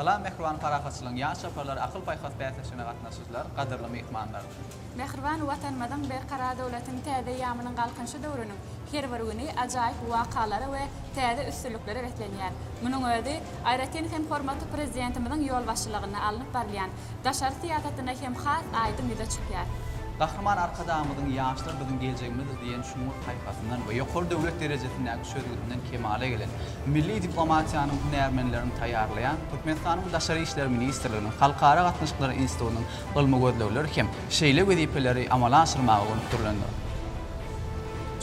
Salam mähriban parahatçylygyň ýaş çaparlary akyl-paýhas bäsleşigine gatnaşyjylar, gadyrly myhmanlar! Mähriban Watanymyzyň Berkarar döwletiň täze eýýamynyň Galkynyşy döwrüniň her bir güni ajaýyp wakalara we täze üstünliklere beslenýär. Munuň özi, aýratyn hem hormatly Prezidentimiziň ýolbaşçylygynda alnyp barylýan daşary syýasatynda hem has aýdyň ýüze çykýar. Gahryman Arkadagymyzyň Ýaşlar biziň geljegimizdir diýen çuňňur paýhasyndan we ýokary döwlet derejesindäki çözgüdinden kemala gelen, milli diplomatiýanyň hünärmenlerini taýýarlaýan Türkmenistanyň Daşary işler ministrliginiň Halkara gatnaşyklary institutynyň ylmy gözlegleri hem şeýle wezipeleri amala aşyrmaga gönükdirilendir.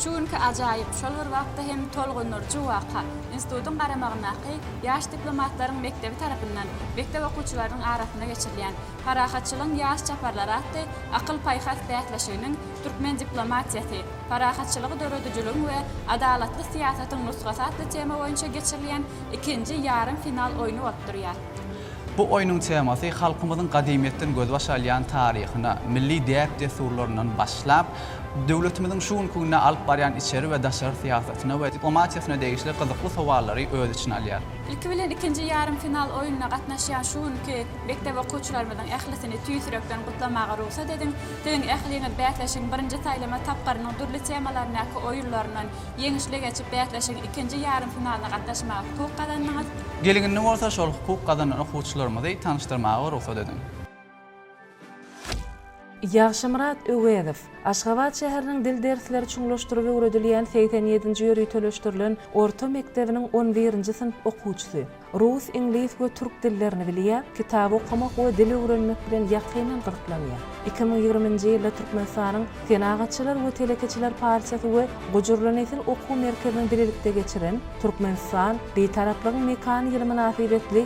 Şu günki ajaýyp, şol bir wagtda hem tolgundyryjy waka, institutyň garamagyndaky, Ýaş diplomatlaryň mekdebi tarapyndan mekdep okuwçylarynyň arasynda geçirilýän Parahatçylygyň ýaş çaparlary atly akyl-paýhas bäsleşiginiň Türkmen diplomatiýasy, parahatçylygy döredijiligiň we adalatly syýasatyň nusgasy atly tema boýunça geçirilýän ikinji ýarym final oýny bolup durýar. Bu oýnuň temasy halkymyzyň gadymyýetden gözbaş alýan taryhyna, milli däp-dessurlaryndan başlap, Döwletimiziň şu günki günde alyp barýan içeri we daşary syýasatyna we diplomatiýasyna degişli gyzykly sowallary öz içine alýar. Ilki bilen ikinji ýarym final oýnuna gatnaşýan şu günki mekdep okuwçylarymyzyň ählisini tüýs ýürekden gutlamaga rugsat ediň. Siziň ähliňiz bäsleşigiň birinji saýlama tapgyrynyň dürli temalaryndaky oýunlaryndan ýeňişli geçip, bäsleşigiň ikinji ýarym finalyna gatnaşmaga hukuk gazandyňyz. Gel indi bolsa şol hukuk gazanan okuwçylarymyzy tanyşdyrmaga rugsat ediň. Ýagşymyrat Öwezow, Aşgabat şäheriniň dil dersleri çuňlaşdyryp öwredilýän segsen ýedinji ýöriteleşdirilen orta mekdebiniň on birinji synp okuwçysy. Rus, iňlis we türk dillerini bilýär, kitap okamak we dil öwrenmek bilen ýakyndan gyzyklanýar. Iki müň ýigriminji ýylda Türkmenistanyň Senagatçylar we telekeçiler partiýasy we Gujurly nesil okuw merkeziniň bilelikde geçiren Türkmenistan, Bitaraplygyň mekany ýyly mynasybetli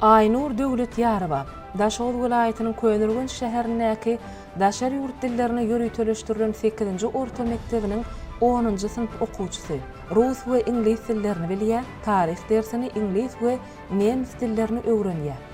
Aýnur Döwletýarowa, Daşoguz welaýatynyň Köneürgenç şäherindäki daşary ýurt dillerine ýöriteleşdirilen sekizinji orta mekdebiniň onunjy synp okuwçysy. Rus we iňlis dillerini bilýär, taryh dersini, iňlis we nemes dillerini öwrenýär.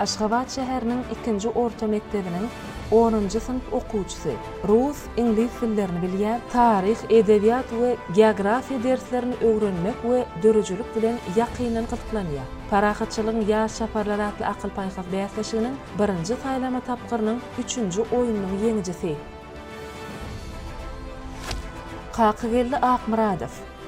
Aşgabat şäheriniň ikinji orta mekdebiniň onunjy synp okuwçysy. Rus, iňlis dillerini bilýär, taryh, edebiýat we geografiýa derslerini öwrenmek we döredijilik bilen ýakyndan gyzyklanýar. Parahatçylygyň ýaz çaparlary atly akyl-paýhas bäsleşiginiň birinji saýlama tapgyrynyň üçünji oýnunyň ýeňijisi. Kakageldi Akmyradow.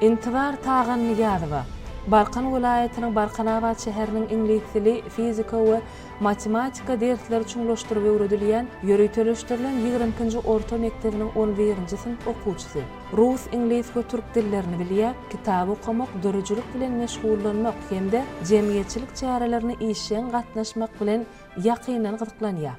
Intibar Tagannyýazowa, Balkan welaýatynyň Balkanabat şäheriniň iňlis dili, fizika we matematika dersleri çuňlaşdyryp öwredilýän ýöriteleşdirilen ýigrimi ikinji orta mekdebiniň on birinji synp okuwçysy. Rus, iňlis we türk dillerini bilýär, kitap okamak, döredijilik bilen meşgullanmak hem-de jemgyýetçilik çärelerine işjeň gatnaşmak bilen ýakyndan gyzyklanýar.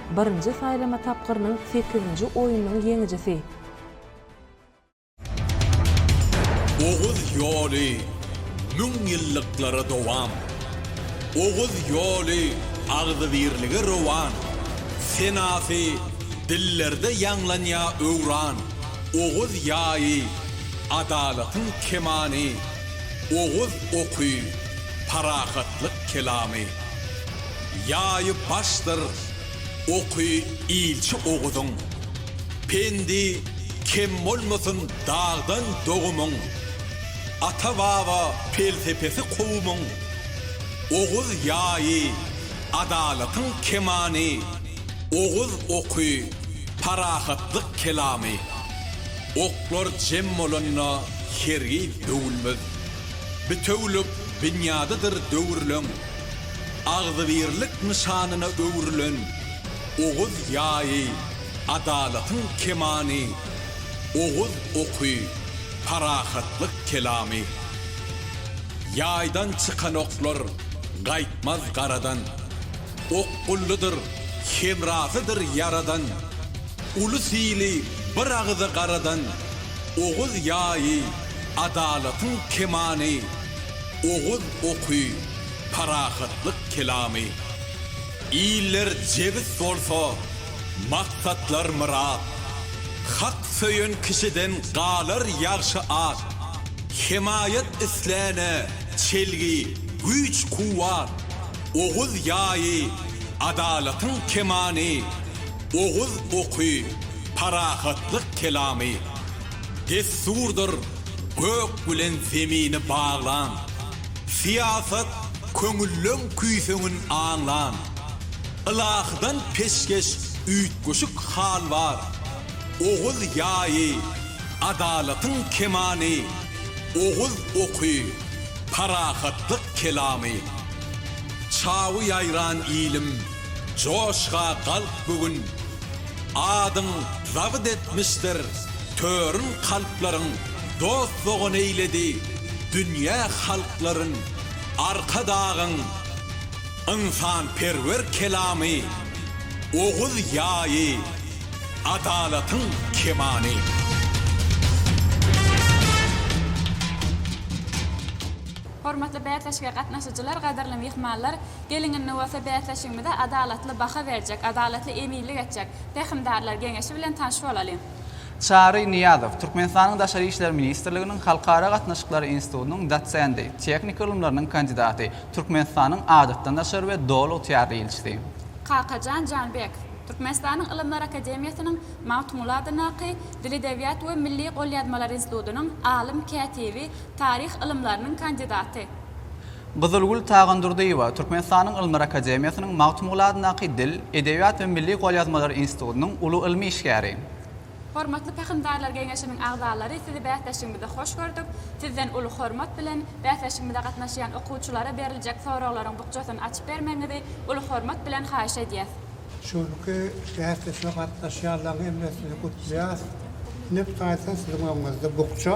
birinji saýlama tapgyrynyň sekizinji oýnunyň ýeňijisi. Oguz ýoly müň ýyllyklara dowam Oguz ýoly agzybirlige rowan Senasy dillerde ýaňlanýa öwran Oguz ýaýy, adalatyň kemany Oguz oky, parahatlyk kelamy. Ýaýy başdyr oky ilçi Oguzyň. Pendi kem bolmasyn dagdan dogumyň. Ata-baba pelsepesi kowumyň. Oguz ýaýy, adalatyň kemany, Oguz oky, parahatlyk kelamy. Oklar jem bolanda hergiz döwülmez. Bitewülik binýadydyr döwürleň. agzybirlik nyşanyna öwrülen Oguz ýaýy, adalatyň kemany, Oguz oky, parahatlyk kelamy. Ýaýdan çykan oklar gaýtmaz garadan, Okgullydyr, hemrasydyr ýaradan, Ulus ili bir agyza garadan, Oguz ýaýy, adalatyň kemany. Oguz oky, parahatlyk kelamy. Iller jebis bolsa, maksatlar myrat. Hak söýen kişiden galar ýagşy at. Hemaýat isläne çelgi, güýç-kuwwat. Oguz ýaýy, adalatyň kemany. Oguz oky, parahatlyk kelamy. Dessurdyr gök bilen zemini baglan, Syýasat köňülleň küýseňin aňlan. Ylahydan peşgeş üýtgeşik hal bar, Oguz ýaýy, adalatyň kemany, Oguz oky, parahatlyk kelamy. Çawy ýaýran ilim, Joşga galk bu gün, Adyň zabyt etmişdir törün kalplaryň Dost-dogan eýledi dünýä halklaryn Arkadagyň ynsanperwer kelamy Oguz ýaýy adalatyň kemany. Hormatly bäsleşige gatnaşyjylar, gadyrly myhmanlar! Geliň indi bolsa bäsleşigimize adalatly baha berjek, adalatly eminlik etjek Pähimdarlar geňeşi bilen tanyş bolalyň. Çary Nyýazow, Türkmenistanyň Daşary işler ministrliginiň Halkara gatnaşyklary institutynyň dosendi, tehniki ylymlarynyň kandidaty, Türkmenistanyň Adatdan daşary we Doly ygtyýarly ilçisi. Kakajan Janbekow, Türkmenistanyň Ylymlar akademiýasynyň Magtymguly adyndaky Dil-edebiýat we milli golýazmalar institutynyň alym, kätibi, taryh ylymlarynyň kandidaty. Gyzylgül Tagandurdyýewa Türkmenistanyň Ylmlar akademiýasynyň Magtymguly adyndaky Dil, edebiýat we milli golýazmalar institutynyň uly ylmy işgäri. Hormatly Pähimdarlar geňeşiniň agzalary sizi bäsleşigimize hoş gördük. Sizden uly hormat bilen, bäsleşigimize gatnaşýan okuwçylara beriljek soraglaryň bukjasyny açyp bermegiňizi uly hormat bilen haýyş edýäs. Şu günki bäsleşige gatnaşýanlaryň hemmesini gutlaýas. Ine, bu taýdan siziň öňüňizde bukja.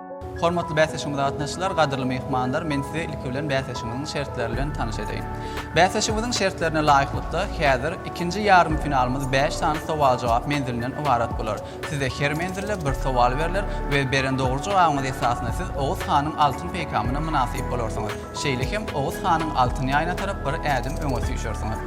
Hormatly bäsleşigimize gatnaşyjylar, gadyrly myhmanlar, men sizi ilki bilen bäsleşigimiziň şertleri bilen tanyş edeýin. Bäsleşigimiziň şertlerine laýyklykda, häzir ikinji ýarym finalymyz bäş sany sowal-jogap menzilinden ybarat bolar. Size her menzilde bir sowal berler we beren dogry jogabyňyz esasynda siz Oguz hanyň altyn peýkamyna mynasyp bolarsyňyz. Şeýle hem Oguz hanyň Altyn ýaýyna tarap bir ädim öňe süýşersiňiz.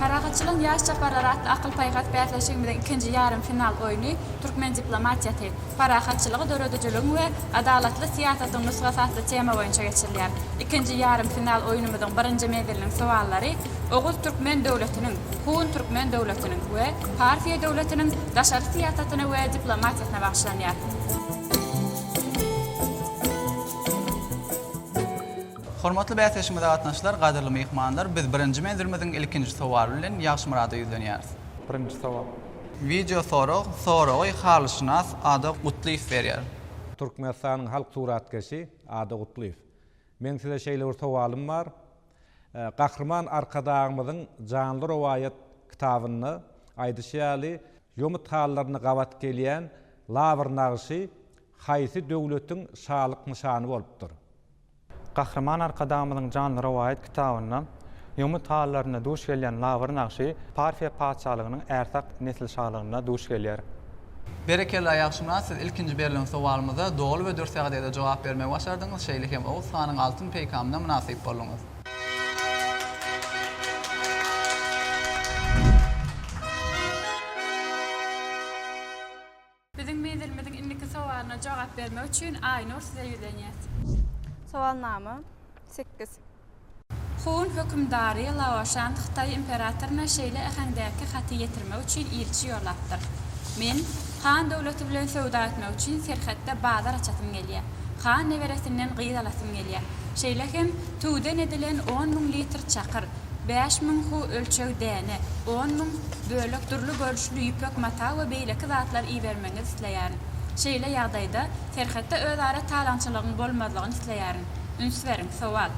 Parahatçylygyň ýaş çaparlary atly akyl-paýhas bäsleşigimiziň ikinji ýarym final oýny Türkmen diplomatiýasy, parahatçylygy döredijiligiň we adalatly syýasatyň nusgasy atly tema boýunça geçirilýär. Ikinji ýarym final oýnumyzyň birinji menziliniň sowallary Oguz türkmen döwletiniň, Hun türkmen döwletiniň we Parfiýa döwletiniň daşary syýasatyna we diplomatiýasyna bagyşlanýar. Hormatly bäsleşigimize gatnaşyjylar, gadyrly myhmanlar, biz birinji menzilimiziň ilkinji sowaly bilen Ýagşymyrada ýüzlenýäris. Birinji sowal. Wideo sorag, Soragy halyşynas Ada Gutlyýew berýär. Türkmenistanyň halk suratkeşi Ada Gutlyýew Meň size şeýle bir sowalym bar. Gahryman Arkadagymyzyň Janly rowaýat kitabynda aýdyşy ýaly, ýomut hallaryna gabat gelýän lawr nagşy haýsy döwletiň şalyk nyşany bolupdyr? Gahryman Arkadagymyzyň Janly rowaýat kitabynda Ýomut halylarynda duş gelýän labyr nagşy Parfiýa patyşalygynyň Ärsah nesilşalygynda duş gelýär. Berekella Ýagşymyrat siz ilkinji berlen sowalymyza doly we dürs ýagdaýda jogap bermegi başardyňyz şeýle hem Oguz hanyň altyn peýkamyna mynasyp bolduňyz. Biziň menzilimiziň indiki sowalyna jogap bermek üçin Aýnur size ýüzlenýäs. Sowalnama, sekiz. Hun hökümdary Laoşan Hytaý imperatoryna şeýle äheňdäki haty ýetirmek üçin ilçi ýollapdyr, Men Han döwleti bilen söwda etmek üçin serhetde bazar açasym gelýär. Han neberesinden gyz alasym gelýär. Şeýle hem tüwden edilen on müň litr çakyr, Bäş müň hu ölçeg däne, on müň bölek dürli görnüşli ýüpek mata we beýleki zatlar ibermegiňizi isleýärin. Şeýle ýagdaýda, serhetde özara talaňçylygyň bolmazlygyny isleýärin. Üns beriň, sowal.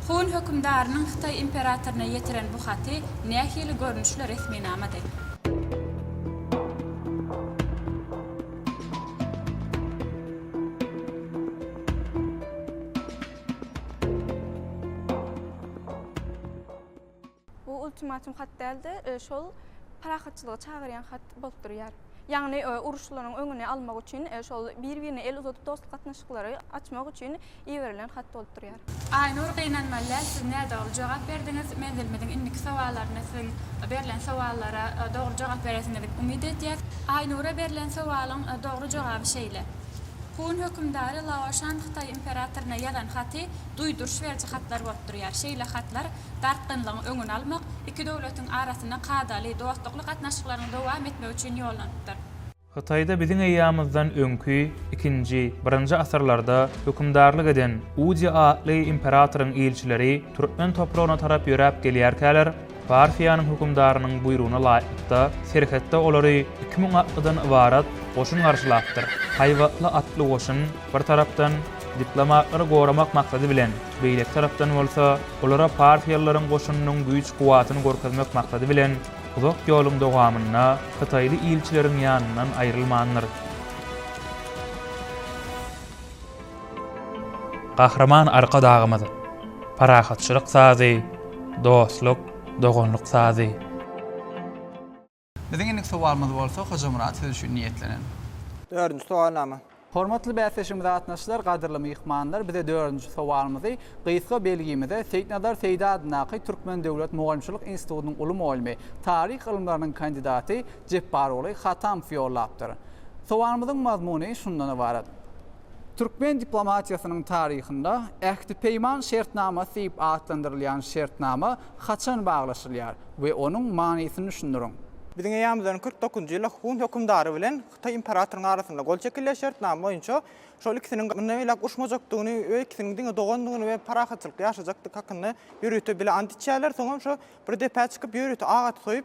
Hun hökümdarynyň Hytaý imperatoryna ýetiren bu haty nähili görnüşli resminamady? Bu ultimatum hat däl-de, e, şol parahatçylyga çagyrýan hat bolup durýar. Ýagny e, uruşlaryň öňüni almak üçin e, şol bir-birine el uzadyp dostluk gatnaşyklary açmak üçin iberilen hat bolup durýar. Aýnur gynanmaly däl siz nädogry jogap berdiňiz, menzilimiziň indiki sowallarynda siziň berlen sowallara dogry jogap beresiňizi umyt edýäs. Aýnura berlen sowalyň dogry jogaby şeýle. Hun hökümdary Laoşan Hytaý imperatoryna ýazan haty duýduryş beriji hatlar bolup durýar. Şeýle hatlar dartgynlygyň öňüni almak, iki döwletiň arasynda kadaly, dostlukly gatnaşyklaryň dowam etmegi üçin ýollanypdyr. Hytaýda biziň eýýamyzdan öňki ikinji, birinji asyrlarda hökümdarlyk eden Udy atly imperatoryň ilçileri türkmen topragyna tarap ýöräp gelýärkäler, Parfiýanyň hökümdarynyň buýrugyna laýyklykda, serhetde olary iki müň atlydan ybarat goşun garşylapdyr. Haýbatly atly goşun, bir tarapdan, diplomatlary goramak maksady bilen, beýleki tarapdan bolsa, olara parfiýalylaryň goşunynyň güýç-kuwwatyny görkezmek maksady bilen, uzak ýoluň dowamynda hytaýly ilçileriň ýanyndan aýrylmandyr. Gahryman Arkadagymyz, Parahatçylyk sazy, dostluk, doganlyk sazy. Biziň indiki sowalymyz bolsa Hojamyrat siz üçin niýetlenen. Dördünji sowalnama. Hormatly bäsleşigimize gatnaşyjylar, gadyrly myhmanlar! Bize dördünji sowalymyzy gysga belgimize Seýitnazar Seýdi adyndaky Türkmen döwlet mugallymçylyk institutynyň uly mugallymy, taryh ylymlarynyň kandidaty, Jepbaroly Hatamow ýollapdyr. Sowalymyzyň mazmuny şundan ybarat. Türkmen diplomatiýasynyň taryhynda Ähti-peýman şertnamasy diýip atlandyrylýan şertnama haçan baglaşylýar we onuň manysyny düşündiriň. Biziň eýämizden kyrk dokuzynjy ýylda Hun hökümdary bilen Hytaý imperatorynyň arasynda gol çekilýär. Şertnama boýunça şol ikisiniň mundan beýläk urşmajakdygyny we ikisiniň diňe dogandygyny we parahatçylykda ýaşajakdygy hakynda ýörite bile ant içýärler. Soňam şo bir depä çykyp ýörite agaç soýup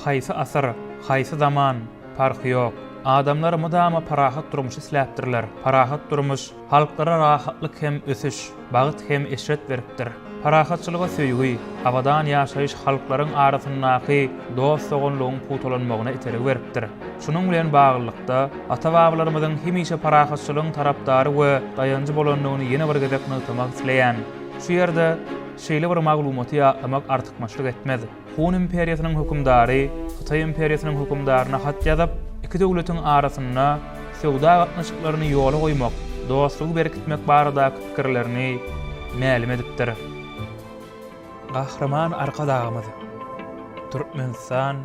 Haýsy asyr, haýsy zaman, parhy ýok. Adamlar mydama parahat durmuş isläpdirler. Parahat durmuş halklara rahatlyk hem ösüş, bagt hem eşret beripdir. Parahatçylyga söýgi, abadan ýaşaýyş halklaryň arasyndaky dost-doganlygyň pugtalanmagyna itergi beripdir. Şunuň bilen baglylykda, ata-babalarymyzyň hemişe parahatçylygyň tarapdary we daýanjy bolandygyny ýene bir gezek nygtamak isleýän. Şu ýerde. Şeýle bir maglumaty ýatlamak artykmaçlyk etmez. Hun imperiýasynyň hökümdary Hytaý imperiýasynyň hökümdaryna hat ýazyp, iki döwletiň arasynda söwda gatnaşyklaryny ýola goýmak, dostlugy berkitmek baradaky pikirlerini mälim edipdir. Gahryman Arkadagymyz, Türkmenistan,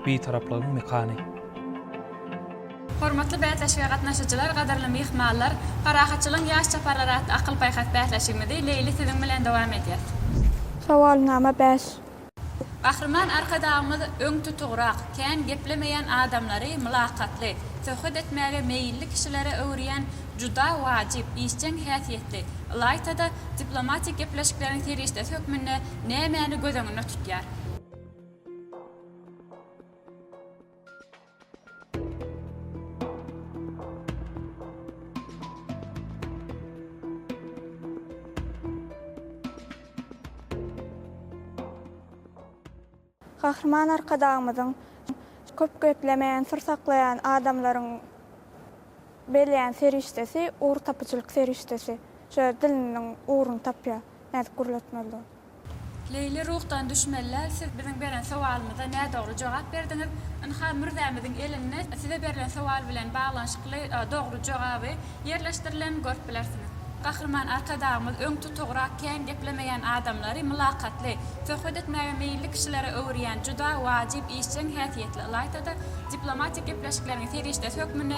Bitaraplygyň mekany! Hormatly bäsleşige gatnaşyjylar, gadyrly myhmanlar! Parahatçylygyň ýaş çaparlary atly akyl-paýhas bäsleşigimizi Leýli siziň bilen dowam edýäs. Sowalnama bäş. Gahryman Arkadagymyz öň tutugrak, kän geplemeýän adamlary mylakatly, söhbet etmäge meýilli kişilere öwürýän juda wajyp, işjeň häsiýetli, ylaýta-da, diplomatik gepleşikleriň serişdesi hökmünde nämäni göz öňünde tutýar? Gahryman Arkadagymyzyň köp geplemeýän, syr saklaýan adamlaryň berýän serişdesi ugurtapyjylyk serişdesi. Şöýle diliniň ugruny tapýar, nädip gürletmeli. Leýli ruhdan düşmelle siz biziň beren sowalymyza nädogry jogap berdiňiz. Ynha mürzämiziň elinde size berlen sowal bilen baglanyşykly dogry jogaby ýerleşdirilen görüp bilersiňiz. Gahryman Arkadagymyz öň tutugrak kän geplemeýän adamlary mylakatly, söhbet etmäge meýilli kişilere öwürýän juda wajyp işjeň häsiýetli ylaýta-da diplomatik gepleşikleriň serişdesi hökmünde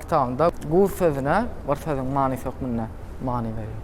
Kitabynda guz sözüne bir sözüň manysy hökmünde many berýär.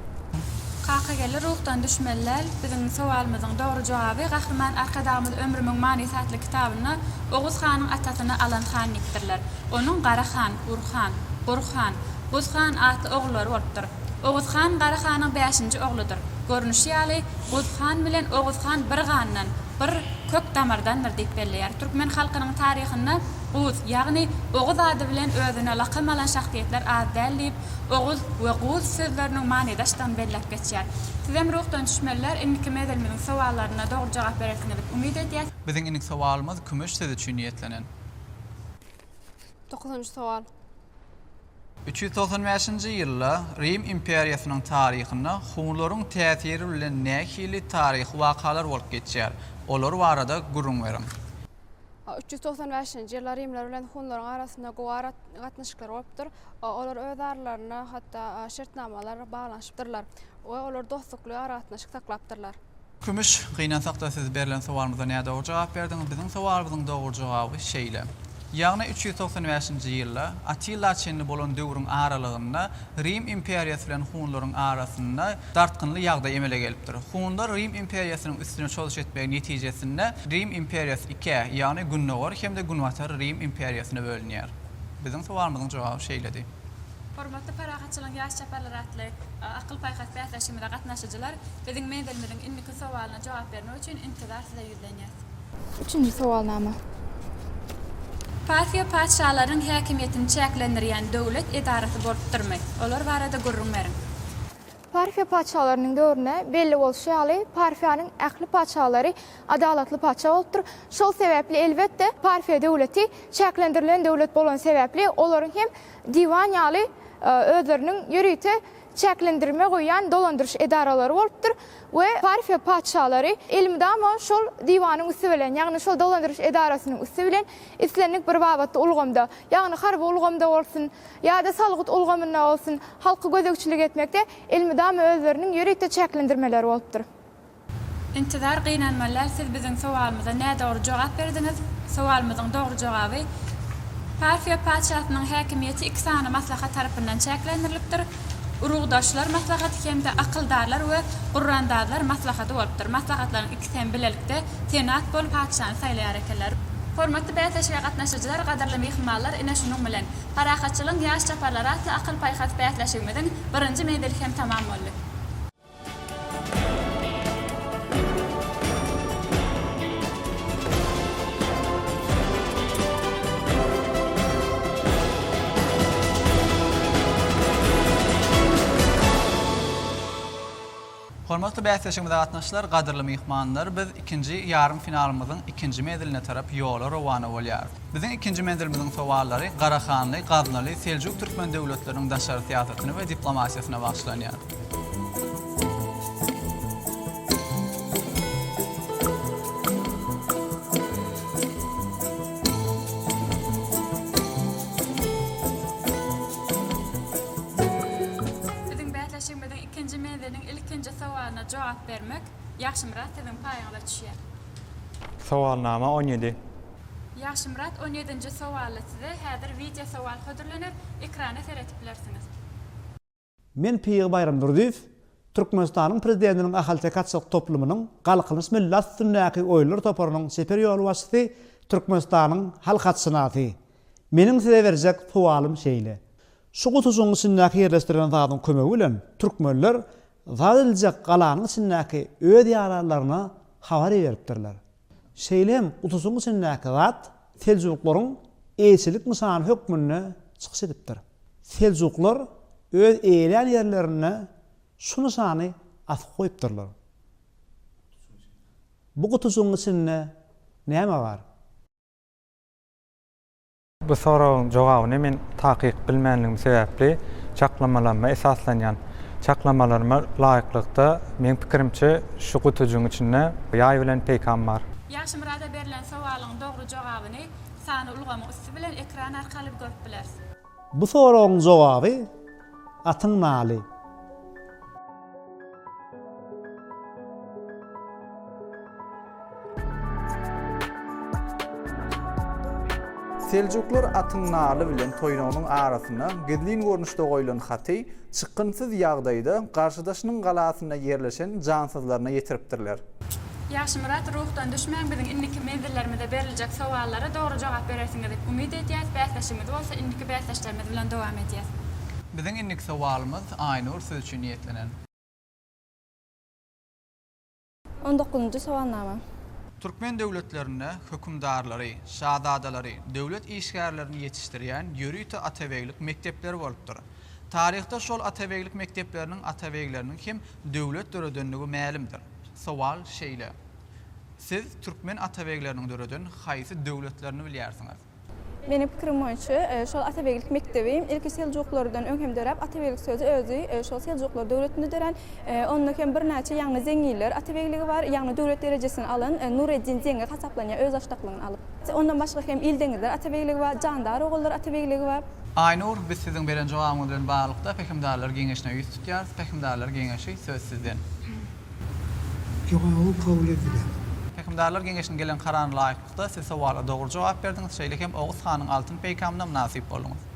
Kakageldi ruhdan düşmeli däl. Biziň sowalymyzyň dogry jogaby Gahryman Arkadagymyz Ömrümiň manysy atly kitabynda Oguz hanyň atasyny Alan han diýipdirler. Onuň Gara han, Gur han, Gur han, Guz han atly ogullary bolupdyr. Oguz han Gara hanyň bäşinji ogludyr. Görnüşi ýaly, Guz han bilen Oguz han bir gandan, bir kök damardandyr diýip belleýär. Türkmen halkynyň taryhynda. Guz, ýagny Oguz ady bilen özüne lakam alan şahsyýetler az däl diýip, Oguz we Guz sözleriniň manydaşdygyny belläp geçýär. Sizem ruhdan düşmeliler, indiki mezilimiziň sowallaryna dogry jogap berersiňiz diýip umyt edýäs. Biziň indiki sowalymyz kümüş sözi üçin niýetlenen. Dokuzynjy sowal. Üç ýüz togsan bäşinji ýylda Rim imperiýasynyň taryhynda hunlaryň täsiri bilen nähili taryhy wakalar bolup geçýär? Olar barada gürrüň beriň. A üç ýüz togsan bäşinji ýylda rimler bilen hunlaryň arasynda gowy ara gatnaşyklar bolupdyr. A olar öz aralarynda hatda a şertnamalar baglanyşypdyrlar we olar dostlukly aragatnaşyk saklapdyrlar. Kümüş, Gynansakda siz berlen sowalymyza nädogry jogap berdiňiz. Biziň sowalymyzyň dogry jogaby şeýle. Ýagny üç ýüz togsan bäşinji ýylda Attila çenli bolan döwrüň aralygynda Rim imperiýasy bilen hunlaryň arasynda dartgynly ýagdaý emele gelipdir. Hunlar Rim imperiýasynyň üstüne çozuş etmegi netijesinde Rim imperiýasy ikä, ýagny Gündogar hem-de Günbatar Rim imperiýasyna bölünýär. Biziň sowalymyzyň jogaby şeýledi. Hormatly Parahatçylygyň ýaş çaparlary atly akyl-paýhas bäsleşigimize gatnaşyjylar, biziň menzilimiziň indiki sowalyna jogap bermek üçin intizar size bellenýär. Üçünji sowalnama. Parfiýa patyşalaryň häkimiýetini çäklendirýän döwlet edarasy bolupdyrmy? Olar barada gürrüň beriň. Parfiýa patyşalarynyň döwründe, belli bolşy ýaly, Parfiýanyň ähli patyşalary adalatly patyşa bolupdyr. Şol sebäpli, elbetde, Parfiýa döwleti çäklendirilen döwlet bolany sebäpli, olaryň hem diwan ýaly özleriniň ýörite çäklendirme goýýan dolandyryş edaralary bolupdyr. we Parfiýa patyşalary elmydama şol diwanyň üsti bilen, ýagny şol dolandyryş edarasynyň üsti bilen islendik bir babatda ulgamda, ýagny harby ulgamda bolsun ýa-da salgyt ulgamynda bolsun, halka gözegçilik etmekde elmydama özleriniň ýörite çäklendirmeleri bolupdyr. Intizar gynanmalär siz biziň sowalymyza nädogry jogap berdiňiz. Sowalymyzyň dogry jogaby, Parfiýa patyşasynyň häkimiýeti iki sany maslahat tarapyndan çäklendirilipdir. Urugdaşlar maslahaty hem-de Akyldarlar we gurrandazlar maslahady bolupdyr. Maslahatlaryň ikisi hem bilelikde Senat bolup patyşany saýlaýar ekenler. Hormatly bäsleşige gatnaşyjylar, gadyrly myhmanlar, ine şunuň bilen Parahatçylygyň ýaş çaparlary atly akyl-paýhas bäsleşigimiziň birinji menzili hem tamam boldy. Hormatly bäsleşigimize gatnaşyjylar, gadyrly myhmanlar, biz ikinji ýarym finalymyzyň ikinji meziline tarap ýola rowana bolýarys. Biziň ikinji menzilimiziň sowallary Garahanly, Gaznaly, Seljuk türkmen döwletleriniň daşary syýasatyny we diplomatiýasyna bagyşlanýar. Biziň bäsleşigimiziň ikinji menziliniň ilkinji sowalyna jogap bermek, Ýagşymyrat, siziň paýyňyza düşýär. Sowalnama on ýedi. Ýagşymyrat, on ýedinji sowalda size häzir wideosowal hödürlener, ekrana seredip bilersiňiz. Men Pygy Baýramdurdyýew, Türkmenistanyň Prezidentiniň Ahalteke atçylyk toplumynyň Galkynyş milli at üstündäki oýunlar toparynyň çeper ýolbaşçysy, Türkmenistanyň halk atşynasy. Meniň size berjek sowalym şeýle. Şu gutujygyň içindäki ýerleşdirilen zadyň kömegi bilen türkmenler zat ediljek galanyň içindäki öz ýaralaryna habar iberipdirler. Şeýle hem utusyň içindäki zat seljuklaryň eýeçilik nyşany hökmünde çykyş edipdir. Seljuklar öz eýelän ýerlerinde şu nyşany asyp goýupdyrlar. Bu gutyjygyň içinde näme bar? Bu soragyň jogabyny men takyk bilmänligim sebäpli çaklamalaryma esaslanýan. Çaklamalaryma laýyklykda, meň pikirimçe, şu gutujygyň içinde ýaý bilen peýkam bar. Ýagşymyrada berlen sowalyň dogry jogabyny sany ulgamyň üsti bilen ekran arkaly görüp bileris. Bu soragyň jogaby Atyň naly. Seljuklar atyň naly bilen toýnagynyň arasyna gizlin görnüşde goýlan haty çykgynsyz ýagdaýda garşydaşynyň galasyna ýerleşen jansyzlaryna ýetiripdirler. Ýagşymyrat, ruhdan düşmäň, biziň indiki menzillerimize beriljek sowallara dogry jogap berersiňizi umyt edýäs, bäsleşigimizi bolsa indiki bäsdeşlerimiz bilen dowam edýäs. Biziň indiki sowalymyz Aýnur siz üçin niýetlenen. On dokuzynjy sowalnama. Türkmen döwletlerinde hökümdarlary, şazadalary, döwlet işgärlerini ýetişdirýän ýörite atabeglik mekdepleri bolupdyr. Taryhda şol atabeglik mekdepleriniň atabegleriniň hem döwlet döredendigi mälimdir. Sowal şeýle, Siz türkmen atabegleriniň döreden haýsy döwletlerini bilýärsiňiz? Meniň pikirim boýunça, şol atabeglik mekdebi ilki seljuklardan öň hem döräp, atabeglik sözi özi şol seljuklar döwletinde dörän. Onda hem birnäçe ýagny zeňňiller atabegligi bar. Ýagny döwlet derejesini alan Nureddin zeňňi hasaplanýar öz başdaklygyny alyp. Ondan başga hem Ildeňizler atabegligi bar, Jandar ogullar atabegligi bar. Aýnur, biz siziň beren jogabyňyz bilen baglylykda Pähimdarlar geňeşine ýüz tutýarys, Pähimdarlar geňeşi söz sizden. Jogabyň kabul edilen. Pähimdarlar geňeşiniň gelen kararyna laýyklykda siz sowala dogry jogap berdiňiz, şeýle hem Oguz hanyň altyn peýkamyna mynasyp bolduňyz.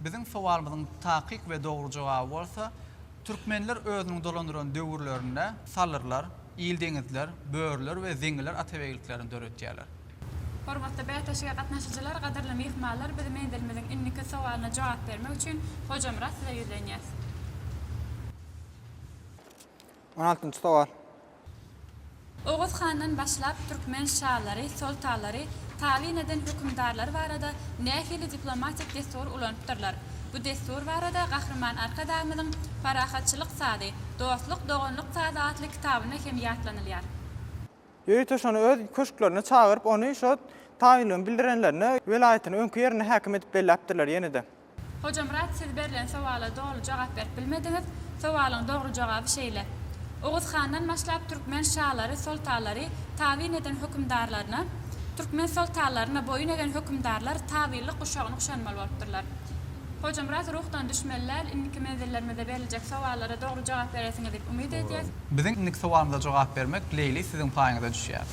Biziň sowalymyzyň takyk we dogry jogaby bolsa, türkmenler özüniň dolandyran döwürlerinde salyrlar, ildeňizler, börüler we zeňiler atabegliklerini döretýärler. Hormatly bäsleşige gatnaşyjylar, gadyrly myhmanlar, biz menzilimiziň indiki sowalyna jogap bermek üçin Hojamyrat size ýüzlenýäs. On altynjy sowal. Oguz handan başlap türkmen şalary, soltalary, tabyn eden hökümdarlary barada nähili diplomatik dessury ulanypdyrlar? Bu dessur barada Gahryman Arkadagymyzyň Parahatçylyk sazy, dostluk, doganlyk sazy atly kitabynda hem ýatlanylýar. Ýörite şony öz köşklerine çagyryp, ony şo tabynlygyny bildirenlerine welaýatyny öňki ýerinde häkim edip belläpdirler ýene-de. Hojamyrat siz berlen sowala doly jogap berip bilmediňiz, sowalyň dogry jogaby şeýle, Oguz handan başlap türkmen şalary, soltalary tabyn eden hökümdarlaryna, türkmen soltanlaryna boýun egen hökümdarlar tabynlyk guşagyny guşanmaly bolupdyrlar. Hojamyrat ruhdan düşmeli däl, indiki menzillerimizde beriljek sowallara dogry jogap berersiňiz diýip umyt edýäs. Biziň indiki sowalymyza jogap bermek Leýli siziň paýyňyza düşýär.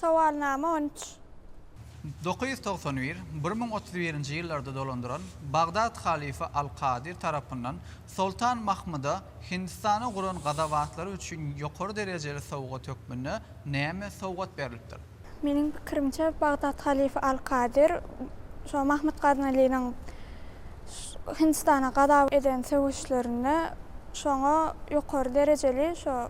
Sowalnama on üç. Dokuz ýüz togsan bir, bir müň otuz birinji ýyllarda dolandyran Bagdat halyfy al-Kadir tarapyndan Soltan Mahmyda Hindistana guran gazabatlary üçin ýokary derejeli sowgat hökmünde näme sowgat berlipdir? Meniň pikirimçe, Bagdat halyfy al-Kadir şo Mahmyt Gaznalynyň Hindistana gazap eden söweşlerinde şoňa ýokary derejeli şo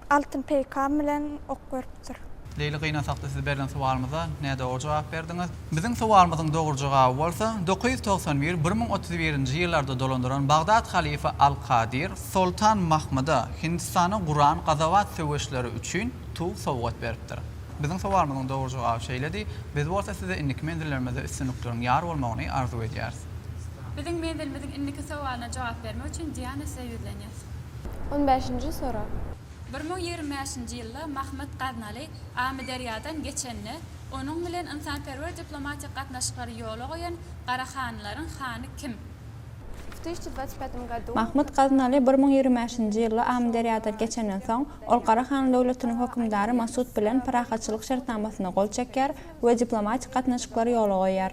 altyn peýkam bilen ok beripdir. Leýli gynasakda siz berlen sowalymyza nädogry jogap berdiňiz. Biziň sowalymyzyň dogry jogaby bolsa, dokuz ýüz togsan bir, bir müň otuz birinji ýyllarda dolandyran Bagdat halyfa al-Kadir, Soltan Mahmyda Hindistana guran gazabat söweşleri üçin tug sowgat beripdir. Biziň sowalymyzyň dogry jogaby şeýledi. Biz bolsa size indiki menzillerimizde üstünlikleriň ýar bolmagyny arzuw edýäris. Biziň menzilimiziň indiki sowalyna jogap bermek üçin Diana size ýüzlenýär. On bäşinji sorag. Bir müň ýigrimi bäşinji ýylda Mahmyt Gaznaly Amyderýadan geçende, onuň bilen ynsanperwer diplomatik gatnaşyklary ýola goýan Gara hanlaryň hany kim? Mahmyt Gaznaly bir müň ýigrimi bäşinji ýylda Amyderýadan geçenden soň, Ol Garahan döwletiniň hökümdary Masut bilen parahatçylyk şertnamasyna gol çekýär we diplomatik gatnaşyklary ýola goýýar.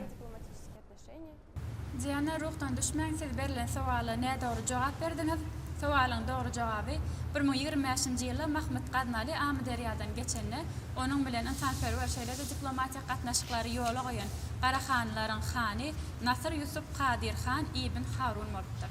Diana ruhdan düşmäň siz berlen sowala nädogry jogap berdiňiz, sowalyň dogry jogaby bir müň ýigrimi bäşinji ýylda Mahmyt Gaznaly Amyderýadan geçende onuň bilen ynsanperwer şeýlede diplomatik gatnaşyklary ýola goýan Garahanlaryň hany Nasyr Ýusup Kadyr han ibn Harun bolupdyr.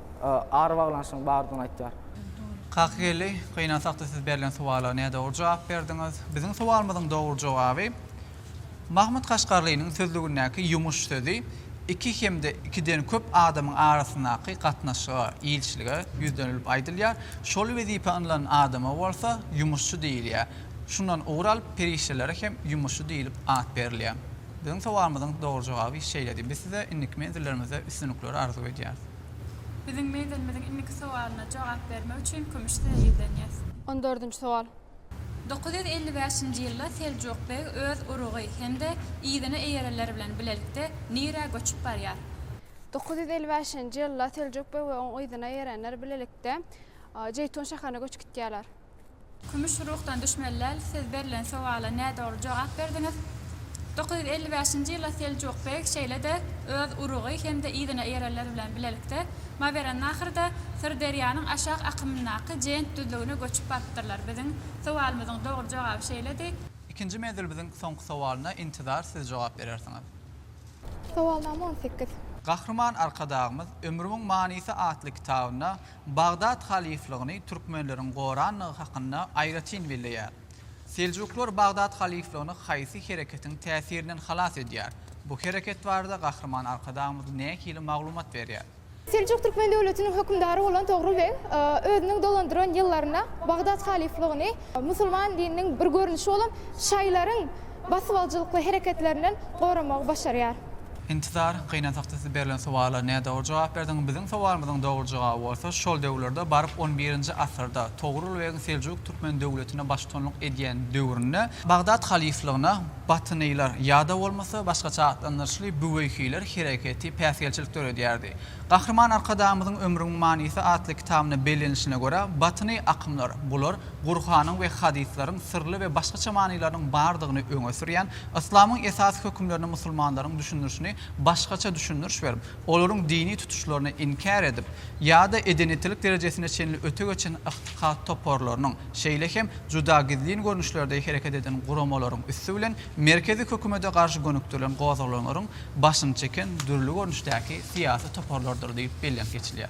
ara baglanyşygyň bardygyny aýtýar. Kakygeldi, gynansak-da siz berlen suwala nädogry jogap berdiňiz. Biziň suwalymyzyň dogry jogaby, Mahmut Kaşgarlynyň sözlügindäki ýumuş sözi iki hem-de ikiden köp adamyň arasyndaky gatnaşyga, ilçilige ýüzlenilip aýdylýar. Şol wezipä ynlan adama bolsa ýumuşçy diýilýär. Şundan ugur alyp, perişdelere hem ýumuşçy diýlip at berilýär. Biziň suwalymyzyň dogry jogaby şeýledi. Biz size indiki menzillerimizde üstünlikleri arzuw edýäris. Biziň meýdanymyzyň indiki sowalyna jogap bermek üçin Kümüş size ýüzlenýäs. On dördünji sowal. Dokuz ýüz elli bäşinji ýylda Seljuk beg öz urugy hem-de yzyna eýerenler bilen bilelikde nirä göçüp barýar? Dokuz ýüz elli bäşinji ýylda Seljuk beg we oň yzyna eýerenler bilelikde Jeýtun şäherine göçüp gitýärler. Kümüş ruhdan düşmeli däl, siz berlen sowala nädogry jogap berdiňiz. Dokuz ýüz elli bäşinji ýylda Seljuk beg şeýle-de öz urugy hem-de yzyna eýerenler bilen bilelikde Mawerennahyrda Syrderýanyň aşak akymyndaky Jent düzlügine göçüp barypdyrlar. Biziň sowalymyzyň dogry jogaby şeýledi. Ikinji menzil biziň soňky sowalyna intizar siz jogap berersiňiz. Sowalnama on sekiz. Gahryman Arkadagymyz Ömrümiň manysy atly kitabynda Bagdat halyflygyny türkmenleriň gorandygy hakynda aýratyn belleýär. Seljuklar Bagdat halyflygyny haýsy hereketiň täsirinden halas edýär? Bu hereket barada Gahryman Arkadagymyz nähili maglumat berýär? Seljuk türkmen döwletiniň hökümdary bolan Togrul beg özüniň dolandyran ýyllarynda Bagdat halyflygyny musulman dininiň bir görnüşi bolan şaýlaryň basybalyjylykly hereketlerinden goramagy başarýar. Intizar, Gynansakda siz berlen sowala nädogry jogap berdiň. Biziň sowalymyzyň dogry jogaby bolsa, şol döwürlerde baryp on birinji asyrda, Togrul begiň Seljuk türkmen döwletine baştutanlyk edýän döwründe, Bagdat halyflygyna Batynylar ýa-da bolmasa, başgaça atlandyryşly Büweýhiler hereketi päsgelçilik döredýärdi. Gahryman Arkadagymyzyň Ömrümiň manysy atly kitabynda bellenilişine görä, batyny akymlar, bular, Gurhanyň we hadyslaryň syrly we başgaça manylarynyň bardygyny öňe sürýän, yslamyň esasy hökümlerini musulmanlaryň düşündirişini başgaça düşündiriş berip, olaryň dini tutuşlaryny inkär edip, ýa-da edenitilik derejesine çenli öte geçen ygtykat toparlarynyň, şeýle hem juda gizlin görnüşlerde hereket eden guramalaryň üsti bilen merkezi hökümete garşy gönükdirilen gozgalaňlaryň başyny çeken dürli görnüşdäki syýasy toparlardyr diýip bellenip geçilýär.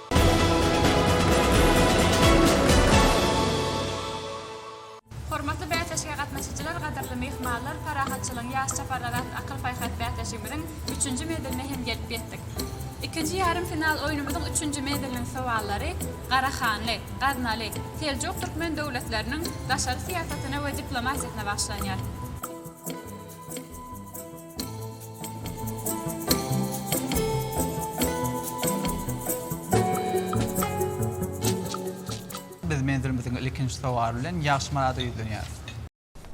Hormatly bäsleşige gatnaşyjylar, gadyrly myhmanlar, Parahatçylygyň ýaş çaparlary atly akyl-paýhas bäsleşigimiziň üçünji meziline hem gelip ýetdik. Ikinji ýarym final oýnumyzyň üçünji meziliniň sowallary Garahanly, Gaznaly, Seljuk türkmen döwletleriniň daşary syýasatyna we diplomatiýasyna bagyşlanýar. Biz menzilimiziň ilkinji sowaly bilen Ýagşymyrada ýüzlenýäris.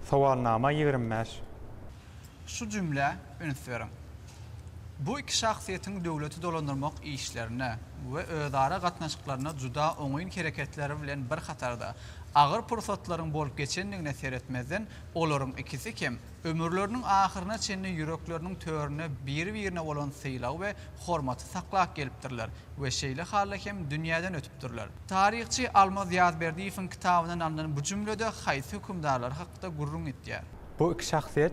Sowalnama ýigrimi bäş. Şu jümlä üns beriň. Bu iki şahsyýetiň döwleti dolandyrmak işlerine we özara gatnaşyklaryna juda oňyn hereketleri bilen bir hatarda, agyr pursatlaryň bolup geçendigine seretmezden, olaryň ikisi hem, Ömürleriniň ahyryna çenli ýürekleriniň töründe biri-birine bolan sylagy we hormaty saklap gelipdirler we şeýle halda hem dünýäden ötüpdirler. Taryhçy Almaz Ýazberdiýewiň kitabyndan alnan bu jümle-de haýsy hökümdarlar hakda gürrüň etýär? Bu iki şahsyýet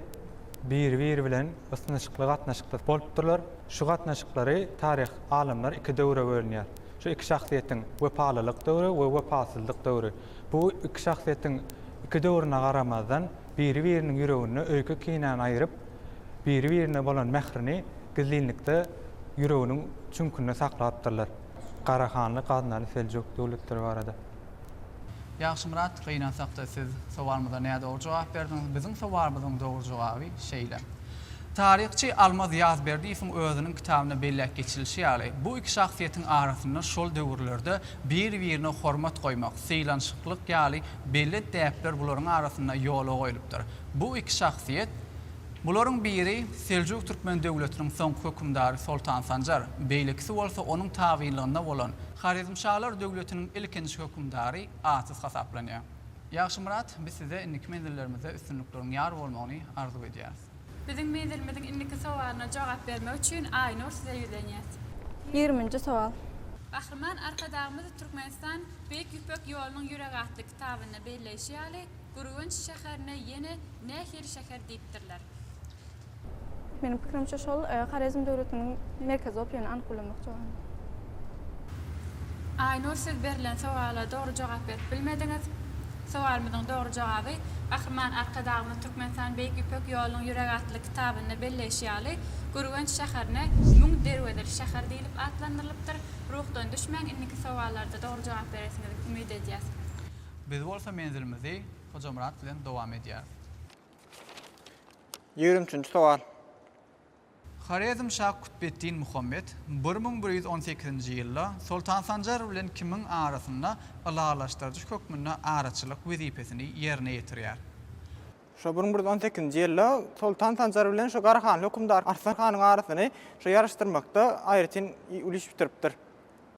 biri-biri bilen ysnyşykly gatnaşykda bolupdyrlar. Şu gatnaşyklary taryh alymlar iki döwre bölünýär. Şu iki şahsyýetiň wepalylyk döwri we wepasyzlyk döwri. Bu iki şahsyýetiň iki döwrüne garamazdan, biri-biriniň ýüreginde öýke-kinäni aýryp, biri-birine bolan mährini gizlinlikde ýüreginiň çüňkünde saklapdyrlar. Garahanly Gaznaly Seljuk döwletleri barada. Ýagşymyrat, gynansak-da siz sowalymyza nädogry jogap berdiňiz. Biziň sowalymyzyň dogry jogaby şeýle. Taryhçy Almaz Ýazberdiýewiň özüniň kitabynda belläp geçilişi ýaly, bu iki şahsyýetiň arasynda şol döwürlerde bir-birine hormat goýmak, sylanşyklyk ýaly belli däpler bularyň arasynda ýola goýlupdyr. Bu iki şahsyýet, bularyň biri Seljuk Türkmen döwletiniň soňky hökümdary Soltan Sanjar, beýlekisi bolsa onuň tabynlygynda bolan Horezmşalar döwletiniň ilkinji hökümdary Atys hasaplanýar. Ýagşymyrat, biz size indiki menzillerimizde üstünlikleriň ýar bolmagyny arzuw edýäris. Biziň menzilimiziň indiki sowalyna jogap bermek üçin Aýnur size ýüzlenýäs. Ýigriminji sowal. Gahryman Arkadagymyz Türkmenistan Beýik Ýüpek ýolunyň ýüregi atly kitabynda belleýşi ýaly, Gürgenç şäherine ýene nähili şäher diýipdirler? Meniň pikirimçe şol Horezm döwletiniň merkezi bolup ýöne anyk bilemok jogabyny. Aýnur siz berlen sowala dogry jogap berip bilmediňiz. Sowalymyzyň dogry jogaby, Gahryman Arkadagymyz Türkmenistan Beýik Ýüpek ýolunyň ýüregi atly kitabynda belleýşi ýaly, Gürgenç şäherine Müň derwezeli şäher diýlip atlandyrylypdyr. Ruhdan düşmäň, indiki sowallarda dogry jogap beresiňizi umyt edýäs. Biz bolsa menzilimizi Hojamyrat bilen dowam edýäris. Ýigrimi üçünji sowal. Horezmşa Kutbeddin Muhammet bir müň bir ýüz on sekizinji ýylda Soltan Sanjar bilen Kimiň arasynda ylalaşdyryjy hökmünde araçylyk wezipesini ýerine ýetirýär. Şo bir müň bir ýüz on sekizinji ýylda Soltan Sanjar bilen şu Garahanly hökümdar Arslan hanyň arasyny şu ýaryşdyrmakda aýratyn uly iş bitiripdir.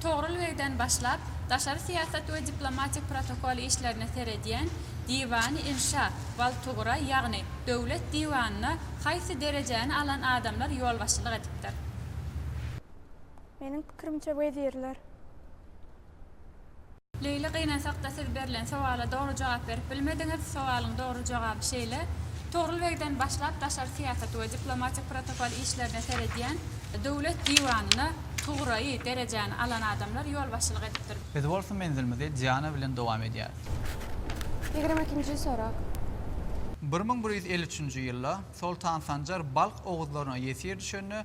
Togrul begden başlap, daşary syýasat we diplomatik protokol işlerine seredýän Diwany-inşa, Waltugra, ýagny Döwlet diwanyna haýsy derejäni alan adamlar ýolbaşçylyk edipdir? Meniň pikirimçe wezirler. Leýli gynansakda siz berlen sowala dogry jogap berip bilmediňiz, sowalyň dogry jogaby şeýle, Togrul begden başlap daşary syýasat we diplomatik protokol işlerine seredýän, Döwlet diwanyna tugraýy derejäni alan adamlar ýolbaşçylyk edipdir. Biz bolsa menzilimizi Diana bilen dowam edýäris. Ýigrimi ikinji sorag. Bir müň bir ýüz elli üçünji ýylda Soltan Sanjar Balh oguzlaryna ýesir düşende,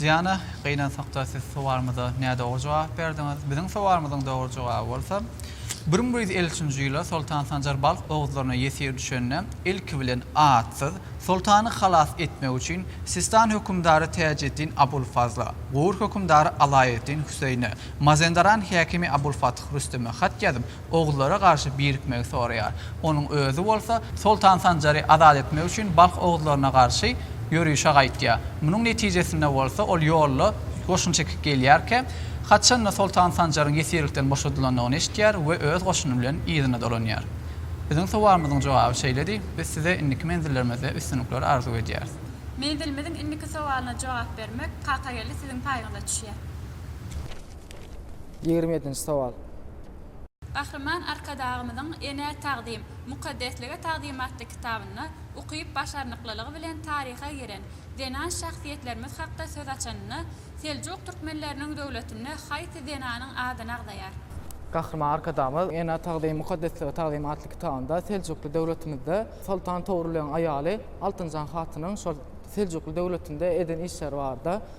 Diana, Gynansakda siz sowalymyza nädogry jogap berdiňiz. Biziň sowalymyzyň dogry jogaby bolsa, Bir müň bir ýüz elli üçünji ýylda Soltan Sanjar balh oguzlaryna ýesir düşende, ilki bilen atsyz, soltany halas etmek üçin, Sistan hökümdary Täjeddin Abulfazla, Gur hökümdary Alaeddin Hüseýine, Mazendaran häkimi Abulfath Rüsteme hat ýazyp, oguzlara garşy birikmegi soraýar. Onuň özi bolsa Soltan Sanjary azat etmek üçin balh oguzlaryna garşy ýörişe gaýtýar. Munuň netijesinde bolsa ol ýolda goşun çekip gelýärkä, haçan-da Soltan Sanjaryň ýesirlikden boşadylandygyny eşitýär we öz goşuny bilen yzyna dolanýar. Biziň sowalymyzyň jogaby şeýledi, biz size indiki menzillerimizde üstünlikler arzuw edýäris. Menzilimiziň indiki sowalyna jogap bermek Kakageldi siziň paýyňyza düşýär. Ýigrimi ýedinji sowal. Gahryman Arkadagymyzyň Enä tagzym, mukaddeslige tagzym atly kitabynda ukyp-başarnyklylygy bilen taryha giren zenan şahsyýetlerimiz hakda söz açanynda, Seljuk türkmenleriniň döwletinde haýsy zenanyň ady nagzaýar? Gahryman Arkadagymyz Enä tagzym, mukaddeslige tagzym atly kitabynda Seljukly döwletimizde Soltan Togrulyň aýaly Altynjan hatynyň şol Seljukly döwletinde eden işleri barada,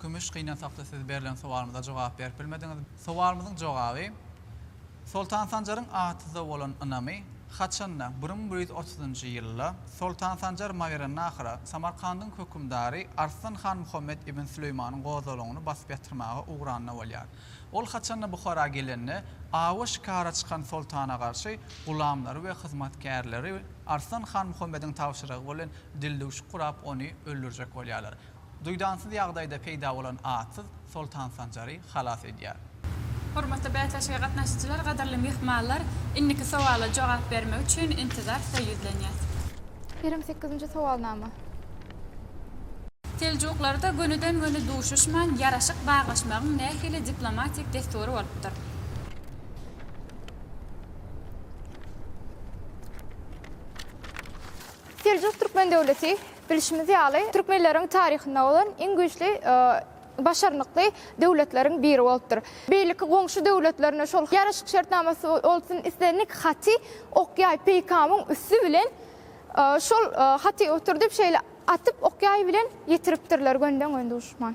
Kümüş gyna sakda siz berlen sowalymyza jogap berip bilmediňiz. Sowalymyzyň jogaby, Soltan Sanjaryň atyza bolan ynamy haçanda, bir müň bir ýüz otuzynjy ýylda, Soltan Sanjar Mawerannahyra, Samarkandyň hökümdary Arslan han Muhammet ibn Süleýmanyň gozgalaňyny basyp ýatyrmaga ugranda bolýar. Ol haçanda Buhara gelende, awa şikara çykan soltana garşy gulamlary we hyzmatkärleri Arslan han Muhammediň tabşyrygy bilen dildüwşük gurap ony öldürjek bolýarlar. Duýdansyz ýagdaýda peýda bolan atsyz Soltan Sanjary halas edýär. Hormatly bäsleşige gatnaşyjylar, gadyrly myhmanlar! Indiki sowala jogap bermek üçin intizar size ýüzlenýäs. Kerem sekizinji sowalnama. Seljuklarda gönüden-göni duşuşman ýaraşyk baglaşmagyň nähili diplomatik dessury bolupdyr? Seljuk Türkmen döwleti Bilşimiz ýaly, türkmenleriň taryhynda bolan iň güýçli, başarnykly döwletleriň biri bolupdyr. Beýleki goňşy döwletlerine şol ýaraşyk şertnamasy bolsun, islendik haty okýaý peýkamyň üsti bilen şol haty oturdyp şeýle atyp okýaý bilen ýetiripdirler gönden-gön duşman.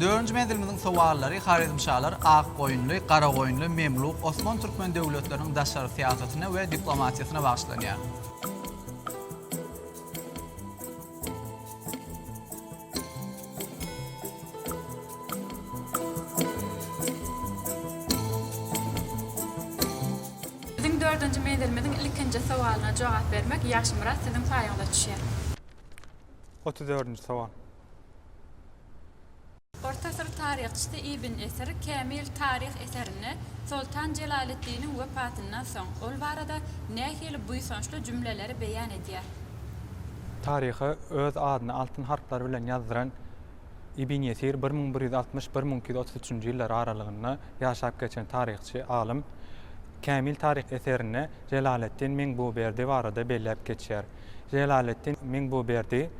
Dördünji menzilimiziň sowallary Horezmşalar, Akgoýunly, Garagoýunly, Memluk, Osman türkmen döwletleriniň daşary syýasatyna we diplomatiýasyna bagyşlanýar. Biziň dördünji menzilimiziň ilkinji sowalyna jogap bermek Ýagşymyrat siziň paýyňyza düşýär. Otuz dördünji sowal. Orta asyr taryhçysy Ibn Esir Kämil taryh eserinde Soltan Jelaleddiniň wefatyndan soň ol barada nähili buýsançly jümleleri beýan edýär? Taryha öz adyny altyn harplar bilen ýazdyran Ibn Esir bir müň bir ýüz altmyş, bir müň iki ýüz otuz üçünji ýyllar aralygynda ýaşap geçen taryhçy, alym. Kämil taryh eserinde Jelaleddin Mengbuberdi barada belläp geçýär. Jelaleddin Mengbuberdi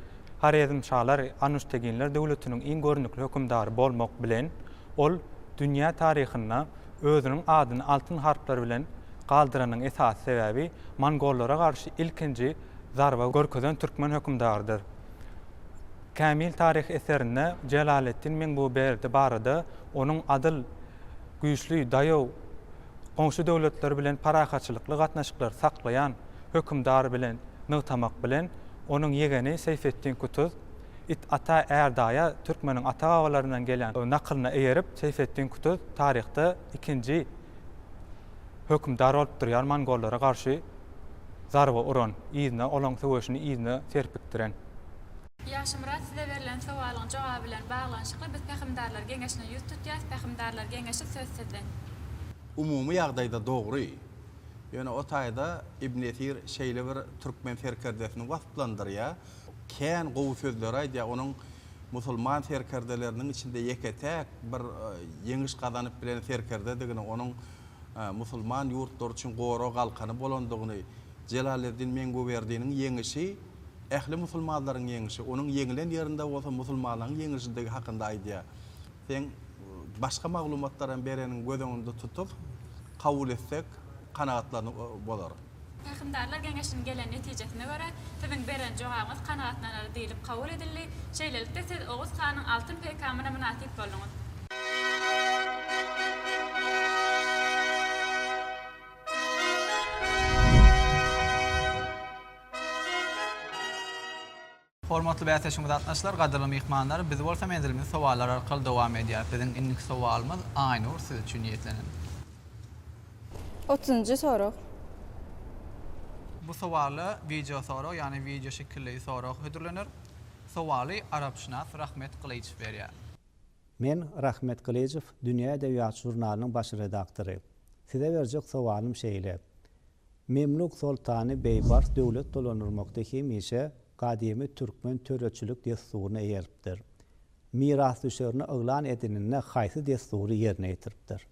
Horezmşalar Anuşteginler döwletiniň iň görnükli hökümdary bolmak bilen, ol dünýä taryhynda özüniň adyny altyn harplar bilen galdyranyň esasy sebäbi mongollara garşy ilkinji zarba görkezen türkmen hökümdarydyr. Kämil taryh eserinde Jelaleddin Mengüberdi barada onuň adyl, güýçli, daýaw, goňşy döwletler bilen parahatçylykly gatnaşyklary saklaýan, hökümdar bilen nygtamak bilen, onuň ýegeni Seýfetdin Kutuz, It ata, är daýa türkmeniň ata-babalaryndan gelen nakylyna eýerip, Seýfetdin Kutuz taryhda ikinji hökümdar bolup durýar mongollara garşy zarba uran, yzyna olaň söweşini yzyna serpikdiren. Ýagşymyrat, size berlen sowalyň jogaby bilen baglanyşykly biz Pähimdarlar geňeşine ýüz tutýas, Pähimdarlar geňeşi söz sizden. Umumy ýagdaýda dogry, Ýöne o taýda Ibn Esir şeýle bir türkmen serkerdesini wasflandyrýar, kän gowy sözleri aýdýar, onuň musulman serkerdeleriniň içinde ýeke-täk bir ýeňiş gazanyp bilen serkerdedigini, onuň musulman ýurtlary üçin gorag-galkany bolandygyny, Jelaleddin Menguberdiniň ýeňişi, ähli musulmanlaryň ýeňişi, onuň ýeňilen ýerinde bolsa musulmanlaryň ýeňişidigi hakynda aýdýar. Seň başga maglumatlar hem bereniň göz öňünde tutup, kabul etsek, kanagatlaryny bozar. Pähimdarlar geňeşiniň gelen netijesine görä, siziň beren jogabyňyz kanagatlanarly diýlip kabul edildi. Şeýlelikde, siz Oguz hanyň altyn peýkamyna mynasyp bolduňyz. Hormatly bäsdeşimiz gatnaşdylar, gadyrly myhmanlar biz bolsa menzilimizi sowallar arkaly dowam edýäris. Biziň indiki sowalymyz Aýnur siz üçin niýetlenen. Otuzynjy sorag. Bu sowala wideo sorag ýagny wideo şekilli sorag hödürlener. Sowaly arapşynas Rahmet Gylyjow berýär. Men Rahmet Gylyjow Dünýä edebiýat žurnalynyň baş redaktory. Size berjek sowalym şeýle. Memluk soltany Beýbars döwlet dolandyrmakda hemişe gadymy türkmen töreçilik dessuryna eýeripdir. Mirasdüşerini yglan edeninde haýsy dessury ýerine ýetiripdir?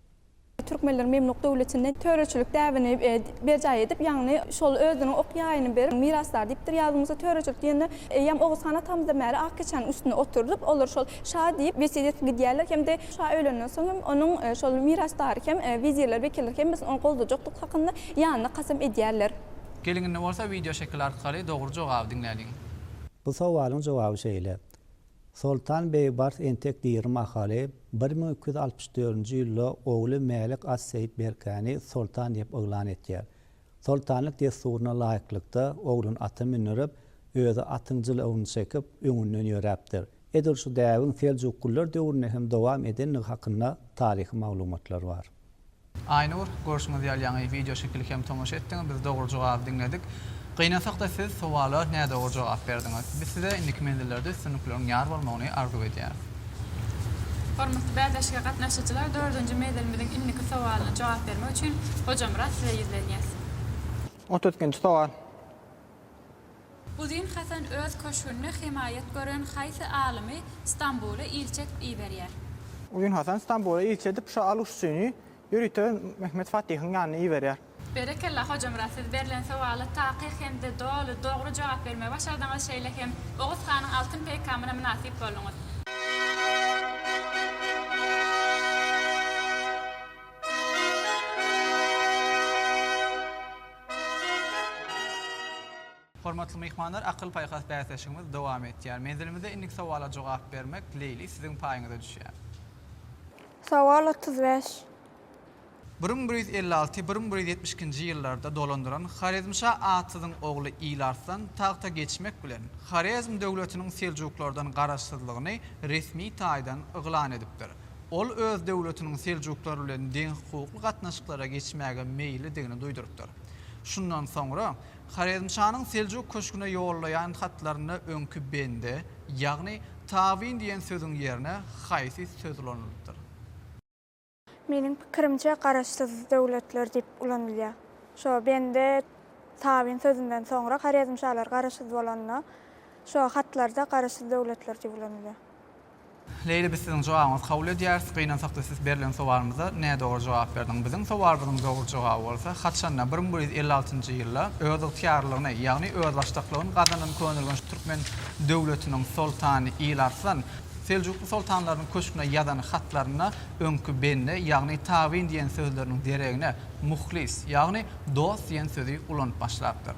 Türkmenler Memluk döwletinde töreçilik däbini berjaý edip, ýagny şol özüniň ok ýaýyny berip, mirasdar diýipdir. Ýazdygymyzda töreçilik diýende eýýäm Oguz han atamyzdan bäri ak keçäniň üstünde oturdyp, olar şol şa diýip, wesiýet edip gidýärler hem-de Şa ölenden soň hem onuň şol mirasdary hem, wezirler, wekiller hemmesini ony goldajakdygy hakynda ýanyna kasam edýärler. Geliň indi bolsa wideo şekili arkaly dogry jogaby diňläliň. Bu sowalyň jogaby şeýle. Soltan Beýbars entek diri mahaly bir müň iki ýüz altmyş dördünji ýylda ogly Mälik as-Seýit Berkäni soltan diýip yglan etýär. Soltanlyk dessuryna laýyklykda oglun ata mündirip, özi atyň jylawuny çekip, öňünden ýöräpdir. Edil şu däbiň seljuklylar döwründe hem dowam edendigi hakynda taryhy maglumatlar bar. Aýnur, görşüňiz ýaly ýaňy wideo şekili hem tomaşa etdiňiz, biz dogry jogaby diňledik. Gynansak-da siz sowala nädogry jogap berdiňiz. Biz size indiki menzillerde üstünlikleriň ýar bolmagyny arzuw edýäris. Hormatly bäsleşige gatnaşyjylar, dördünji menzilimiziň indiki sowalyna jogap bermek üçin Hojamyrat size ýüzlenýäs. Otuz ikinji sowal. Uzyn Hasan öz köşgünde hemaýat gören haýsy alymy Stambula ilçi edip iberýär? Uzyn Hasan Stambula ilçi edip şo Aluşçyny ýörite Mehmet Fatyhyň ýanyna iberýär. Berekella Hojamyrat siz berlen sowala takyk hemde doly dogry jogap bermegi başardyňyz şeýle hem Oguz hanyň altyn peýkamyna mynasyp bolduňyz. Hormatly myhmanlar akyl-paýhas bäsleşigimiz dowam etýär. Menzilimizde indiki sowala jogap bermek, Leýli, siziň paýyňyza düşýär. Sowal otuz bäş. Bir müň bir ýüz elli alty, bir müň bir ýüz ýetmiş ikinji ýyllarda dolandyran Horezmşa Atsyzyň ogly Ýyl Arslan tagta geçmek bilen, Horezm döwletiniň seljuklardan garaşsyzlygyny resmi taýdan yglan edipdir. Ol öz döwletiniň seljuklar bilen deňhukukly gatnaşyklara geçmäge meýillidigini duýdurypdyr. Şundan soňra Horezmşanyň Seljuk köşgüne ýollaýan hatlarynda öňki bende, ýagny tabyn diýen sözüň ýerine haýsy söz ulanylypdyr? Meniň pikirimçe garaşsyz döwletler diýip ulanylýar. Şo bende, tabyn sözünden soňra horezmşalar garaşsyz bolanda, şo hatlarda garaşsyz döwletler diýip ulanylýar. Leýli biz siziň jogabyňyzy kabul edýäris, gynansakda siz berlen sowalymyza nädogry jogap berdiň. Biziň sowalymyzyň dogry jogaby bolsa haçanda bir müň bir ýüz elli altynjy ýylda özygtyýarlylygyny, ýagny özbaşdaklygyny gazanan könelgeç türkmen döwletiniň soltany Ilarslan Seljukly soltanlarynyň köşgüne ýazan hatlarynda öňki bende, ýagny tabyn diýen sözleriniň deregine muhlis, ýagny dost diýen sözi ulanyp başlapdyr.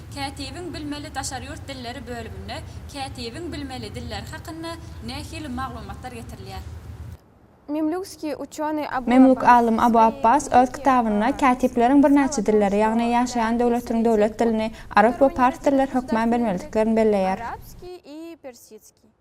Kätibiň bilmeli daşary ýurt dilleri bölüminde kätibiň bilmeli dilleri hakynda nähili maglumatlar getirilýär? Memluk alym Abu Abbas öz kitabynda kätipleriň birnäçe dilleri, ýagny ýaşaýan döwletiniň döwlet dilini, arap we pars dilleri hökmän bilmelidiklern belleýär.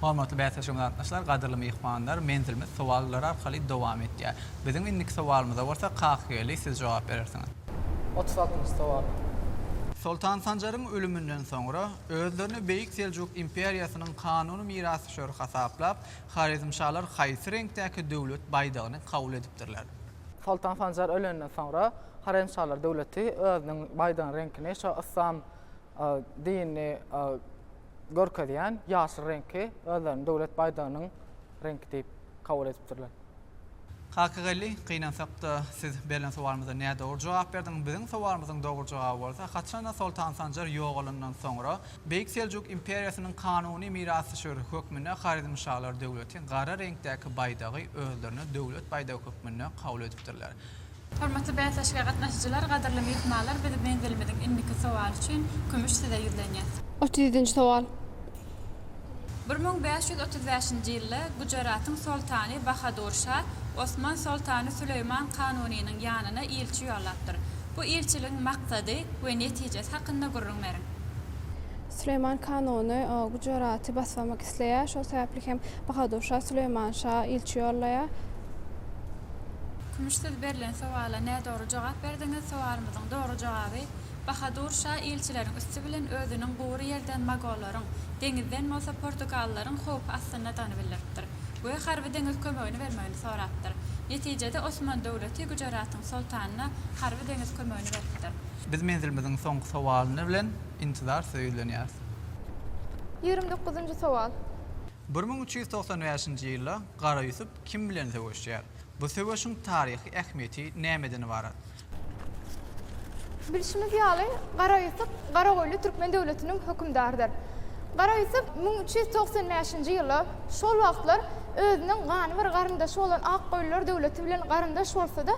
Hormatly bäsleşigimize gatnaşyjylar, gadyrly myhmanlar! Menzilimiz sowallar arkaly dowam etýär. Biziň indiki sowalymyza bolsa Kakygeli siz jogap berersiňiz. Otuz altynjy sowal. Soltan Sanjaryň ölüminden soňra, özlerini Beýik Seljuk imperiýasynyň kanuny mirasdüşeri hasaplap, horezmşalar haýsy reňkdäki döwlet baýdagyny kabul edipdirler? Soltan Sanjar ölenden soňra, horezmşalar döwleti özüniň baýdagynyň reňkini şo yslam dinini, görkezýän ýaşyl reňki özleriniň döwlet baýdagynyň reňki diýip kabul edipdirler. Kakageldi, Gynansakda, siz berlen sowalymyza nädogry jogap berdiňiz. Biziň sowalymyzyň dogry jogaby bolsa, haçanda Soltan Sanjar ýogalandan soňra, Beýik Seljuk imperiýasynyň kanuny mirasdüşeri hökmünde Horezmşalar döwleti gara reňkdäki baýdagy özlerine döwlet baýdagy hökmünde kabul edipdirler. Hormatly bäsleşige gatnaşyjylar, gadyrly myhmanlar biz menzilimiziň indiki sowaly üçin Kümüş size ýüzlenýäs. Otuz ýedinji sowal. Bir müň bäş ýüz otuz bäşinji ýylda Gujaratyň soltany Bahadur şa Osman soltany Süleýman Kanunynyň ýanyna ilçi ýollapdyr. Bu ilçiligiň maksady we netijesi hakynda gürrüň beriň. Süleýman Kanuny Gujaraty basyp almak isleýär. Şol sebäpli hem Bahadur şa Süleýman şa ilçi ýollaýar. Kümüş siz berlen sowala nädogry jogap berdiňiz sowalymyzyň dogry jogaby Bahadur şa ilçileriň üsti bilen özüniň gury ýerden mogollaryň deňizden bolsa portugalylaryň howpy astyndadygyny bildiripdir we harby deňiz kömegini bermegini sorapdyr netijede Osman döwleti Güjeratyň soltanyna harby deňiz kömegini beripdir. Biz menzilimiziň soňky sowalyny bilen intizar size ýüzlenýäris. Ýigrimi dokuzynjy sowal. Bir müň üç ýüz togsan bäşinji ýylda Gara Ýusup Kim bilen söweşýär? Bu söweşiň taryhy ähmiýeti nämeden ybarat? Bilşimiz ýaly, Gara Ýusup Garagoýly türkmen döwletiniň hökümdarydyr. Gara Ýusup müň üç ýüz togsan bäşinji ýyly, şol wagtlar özüniň gany bir garyndaşy bolan Akgoýlylar döwleti bilen garyndaş bolsa-da,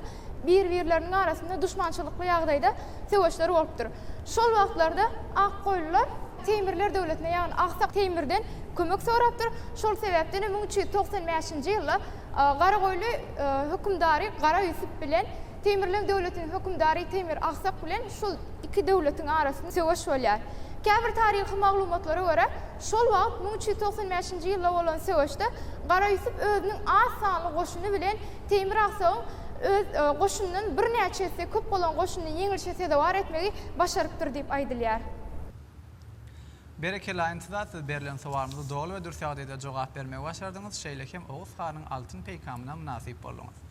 bir-birleriniň arasynda duşmançylykly ýagdaýda söweşler bolupdyr. Şol wagtlarda Akgoýlular Teýmirler döwletine, ýagny Aksak Teýmirden kömek sorapdyr. Şol sebäpden hem müň üç ýüz togsan bäşinji ýylda Garagoýly hökümdary Gara Ýusup bilen Teýmirleň döwletiniň hökümdary Teýmir Aksak bilen şol iki döwletiň arasynda söweş bolýar. Käbir taryhy maglumatlara görä, Şol wagt müň üç ýüz togsan bäşinji ýylda bolan söweşde Gara Ýusup özüniň az sanly goşuny bilen Teýmir Aksagyň öz goşunyndan birnäçe esse köp bolan goşunyny ýeňilişe sezewar etmegi başarypdyr diýip aýdylýar. Berekella Intiza siz berlen sowalymyza doly we dürs ýagdaýda jogap bermegi başardyňyz, şeýle hem Oguz hanyň altyn peýkamyna mynasyp bolduňyz.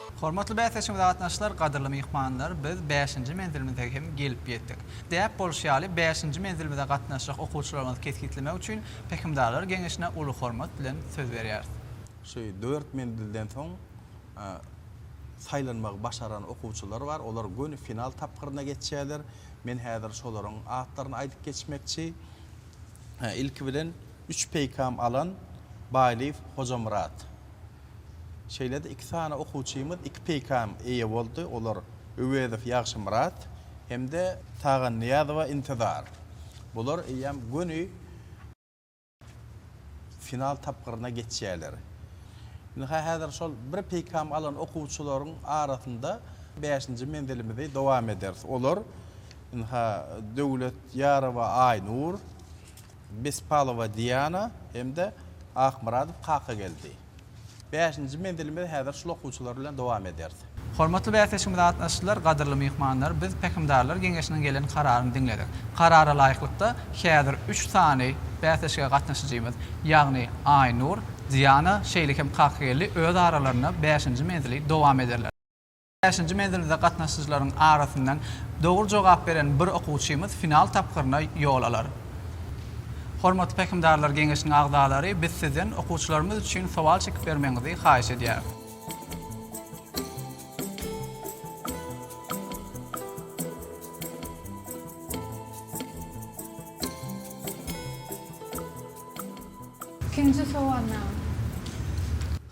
Hormatly bäsdeşimiz Gatnaşyjylar, gadyrly myhmanlar, biz bäşinji menzilimize hem gelip ýetdik. Däp bolşy ýaly, bäşinji menzilimize gatnaşjak okuwçylarymyzy kesgitlemek üçin Pähimdarlar geňeşine uly hormat bilen söz berýäris. Şu dört menzilden soň saýlanmagy başaran okuwçylar bar. Olar göni final tapgyryna geçýärler. Men häzir şolaryň atlaryny aýdyp geçmekçi. Ilki bilen, üç peýkam alan Baýlyýew Hojamyrat. Şeýle-de iki sany okuwçymyz iki peýkam eýe boldy, olar Öwezow Ýagşymyrat hem-de Tagannyýazowa Intizar. Bular eýýäm göni final tapgyryna geçýärler. Ynha, häzir şol bir peýkam alan okuwçylaryň arasynda bäşinji menzilimizi dowam ederis. Olar, ynha, Döwlet Ýarowa Aýnur. Bespalowa Diana hem-de Akmyradow Kakageldi. Bäşinji menzilimizi häzir şul okuwçylar bilen dowam ederis. Hormatly bäsleşigimize gatnaşyjylar, gadyrly myhmanlar! Biz Pähimdarlar geňeşiniň gelen kararyny diňledik. Karara laýyklykda, häzir üç sany bäsleşige gatnaşyjymyz, ýagny Aýnur, Diana, şeýle hem Kakageldi öz aralarynda bäşinji menzili dowam ederler. Bäşinji menzilde gatnaşyjylaryň arasyndan dogry jogap beren bir okuwçymyz final tapgyryna ýol alar. Hormatly Pähimdarlar geňeşiniň agzalary biz sizden okuwçylarymyz üçin sowal çekip bermegiňizi haýyş edýäris. Ikinji sowalnama.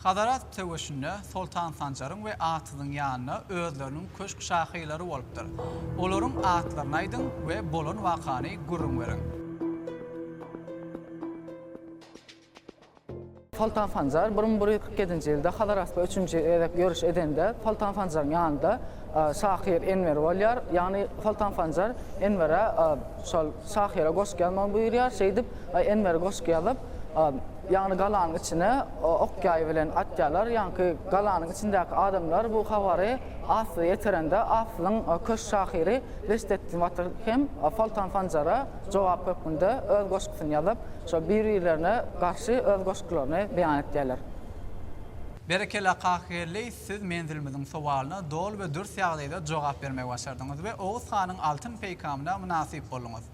Hazara. söweşinde Soltan Sanjaryň we Atyzyň ýanyna özleriniň köşk şahylary bolupdyr. Olaryň atlaryny aýdyň we bolan wakany gürrüň beriň. Soltan Sanjar bir müň bir ýüz kyrk ýedinji ýylda Hazar asly üçünji gezek ýöriş edende, Soltan Sanjaryň ýanynda şahyr Enwer bolýar. Ýagny Soltan Sanjar Enwere şol şahyra goşgy ýazmagy buýurýar. Şeýdip, Enwer goşgy ýazyp, Ýagny galanyň içine ok-ýaý bilen atýarlar. Ýaňky galanyň içindäki adamlar bu habary Asyla ýetirende, Asylyň köşk şahyry Reşdetdin batyr hem Soltan Sanjara jogap hökmünde öz goşgusyny ýazyp, şo bir-birlerine garşy öz goşgularyny beýan etýärler. Berekella Kakygeldi, siz menzilimiziň sowalyna doly we dürs ýagdaýda jogap bermegi başardyňyz we Oguz hanyň altyn peýkamyna mynasyp bolduňyz.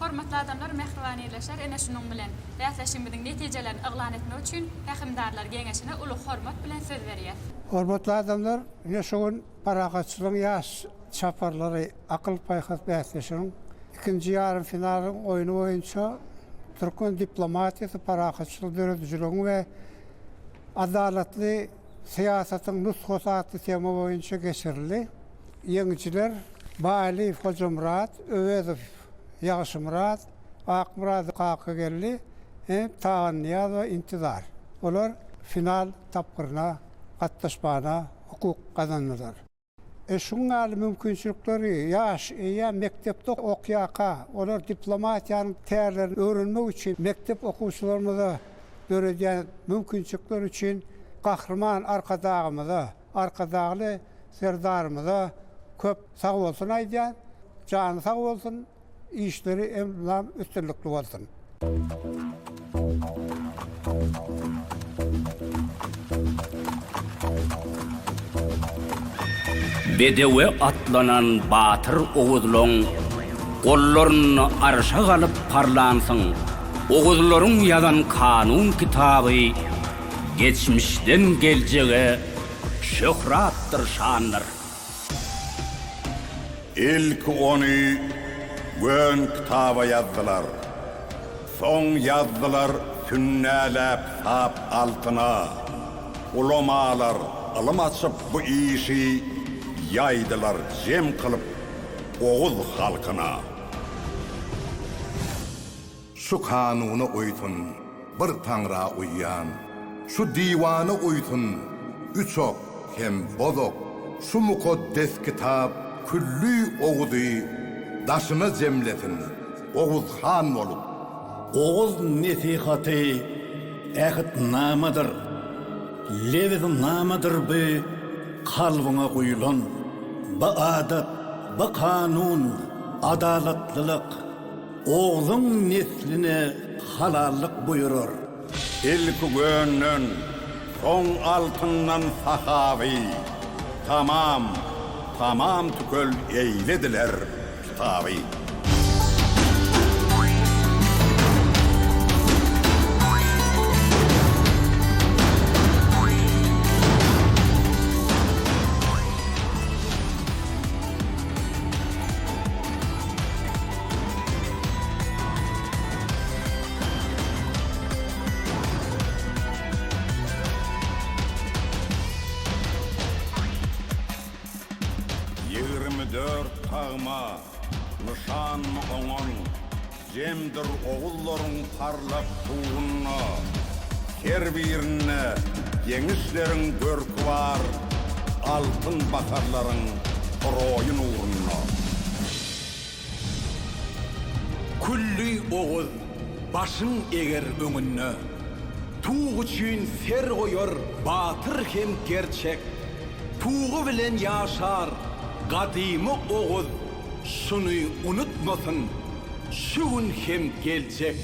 Hormatly adamlar mähribaneleşer ene şunuň bilen bäsleşigimiziň netijelerini yglan etmek üçin Pähimdarlar geňeşine uly hormat bilen söz berýäs. Hormatly adamlar ine şu gün Parahatçylygyň ýaş çaparlary akyl-paýhas bäsleşigiň ikinji ýarym finalyň oýny boýunça türkmen diplomatiýasy parahatçylygy döredijiligiň we adalatly Syýasatyň nusgasy atly tema boýunça geçirildi. Ýeňijiler Baýlyýew Hojamyrat, Öwezow Ýagşymyrat, Akmyradow Kakageldi, Enip Tagannyýazowa Intizar. Olar final tapgyryna gatnaşmagyna hukuk gazandylar. E şuň ýaly mümkinçilikleri ýaş eýýäm mekdepde okýarka, olar diplomatiýanyň tärlerini öwrenmek üçin mekdep okuwçylarymyza döredýän mümkinçilikler üçin Gahryman Arkadagymyza, Arkadagly Serdarymyza köp sagbolsun aýdýan. Jany sag bolsun. Işleri elmydam üstünlikli bolsun. Bedewe atlanan batyr oguzlaň gollarynda arşa galyp parlansyň. Oguzlaryň ýazan kanun kitaby geçmişden geljege şöhratdyr şandyr. Ilki ony gön kitaba ýazdylar. Soň ýazdylar sünnäläp sap altyna. Ulamalar ylym açyp bu işi ýaýdylar jem kylyp oguz halkyna. Şu kanuna uýsun, bir Taňra uýýan, şu diwana uýsun, üç ok hem bozok, şu mukaddes kitap külli Oguzy daşyna jemlesin, Oguz han bolup. Oguz nesihaty ähtnamadyr, lebiznamadyr bu kalbyňa guýulan, bu adat, bu kanun, adalatlylyk, Ogzuň nesline halallyk buýurar. Ilki gönden, soň altyndan sahaby, Tamam, tamam tükel eýlediler kitaby. Ýigrimi dört tagma nyşan oňan jemdir ogullaryň parlak suwunda, her birinde ýeňişleriň görki bar, altyn baharlaryň roýy nurunda. Külli oguz başyn eger öňünde, Tug üçin ser goýar batyr hem gerçek. Tugy bilen ýaşar gadymy oguz, Şuny unutmasyn şu gün hem geljek.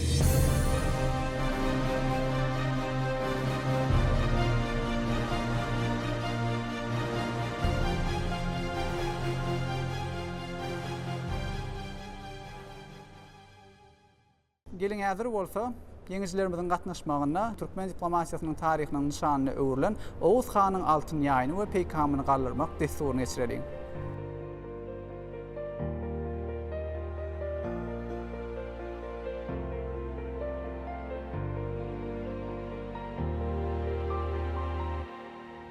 Geliň häzir bolsa, ýeňijilerimiziň gatnaşmagynda türkmen diplomatiýasynyň taryhynyň nyşanyna öwrülen Oguz hanyň altyn ýaýyny we peýkamyny galdyrmak dessuryny geçireliň.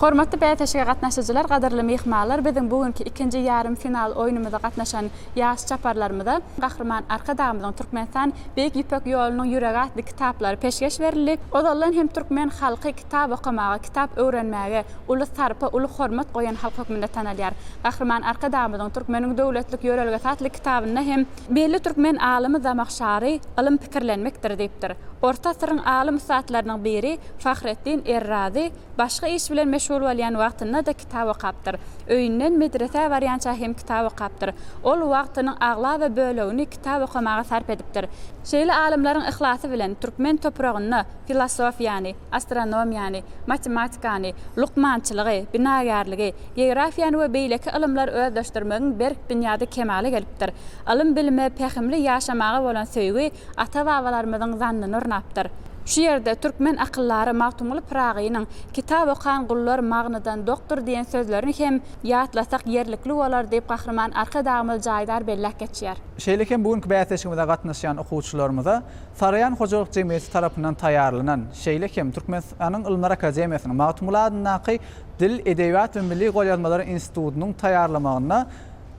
Hormatly bäsleşige gatnaşyjylar, gadyrly myhmalar biziň bu günki ikinji ýarym final oýnumyza gatnaşan ýaş çaparlarymyza Gahryman Arkadagymyzyň Türkmenistan Beýik Ýüpek ýolunyň ýüregi atly kitaplary peşgeş berildi. Ozaldan hem türkmen halky kitap okamaga, kitap öwrenmäge uly sarpa, uly hormat goýan halk hökmünde tanalýar. Gahryman Arkadagymyzyň Türkmeniň döwletlik ýörelgesi atly kitabynda hem. Belli türkmen alymy Zamahşary, Ylym pikirlenmekdir diýipdir. Orta asyryň alym-ussatlarynyň biri Fahretdin Errazy başga iş bilen meşgul bolýan wagtynda-da kitap okapdyr. Öýünden medresä barýança hem kitap okapdyr. Ol wagtynyň aglaba bölegini kitap okamaga sarp edipdir. Şeýle alymlaryň yhlasy bilen türkmen topragynda filosofiýany, astronomiýany, matematikany, lukmançylygy, binagärligi, geografiýany we beýleki ylymlar özleşdirmegiň berk binýady kemala gelipdir. Ylym-bilime, pähimli ýaşamaga bolan söýgi Ata-babalarymyzyň zannyny ornapdyr. Şu ýerde türkmen akyldary Magtymguly Pyragynyň Kitap okan gullar magnydan dokdur diýen sözlerini hem ýatlasak ýerlikli bolar diýip Gahryman Arkadagymyz jaýdar belläp geçýär. Şeýle hem bu günki bäsleşigimize gatnaşýan okuwçylarymyza Saryýan hojalyk jemgyýeti tarapyndan taýýarlanan, şeýle hem Türkmenistanyň Ylymlar akademiýasynyň Magtymguly adyndaky Dil, edebiýat we milli golýazmalar institutynyň taýýarlamagynda,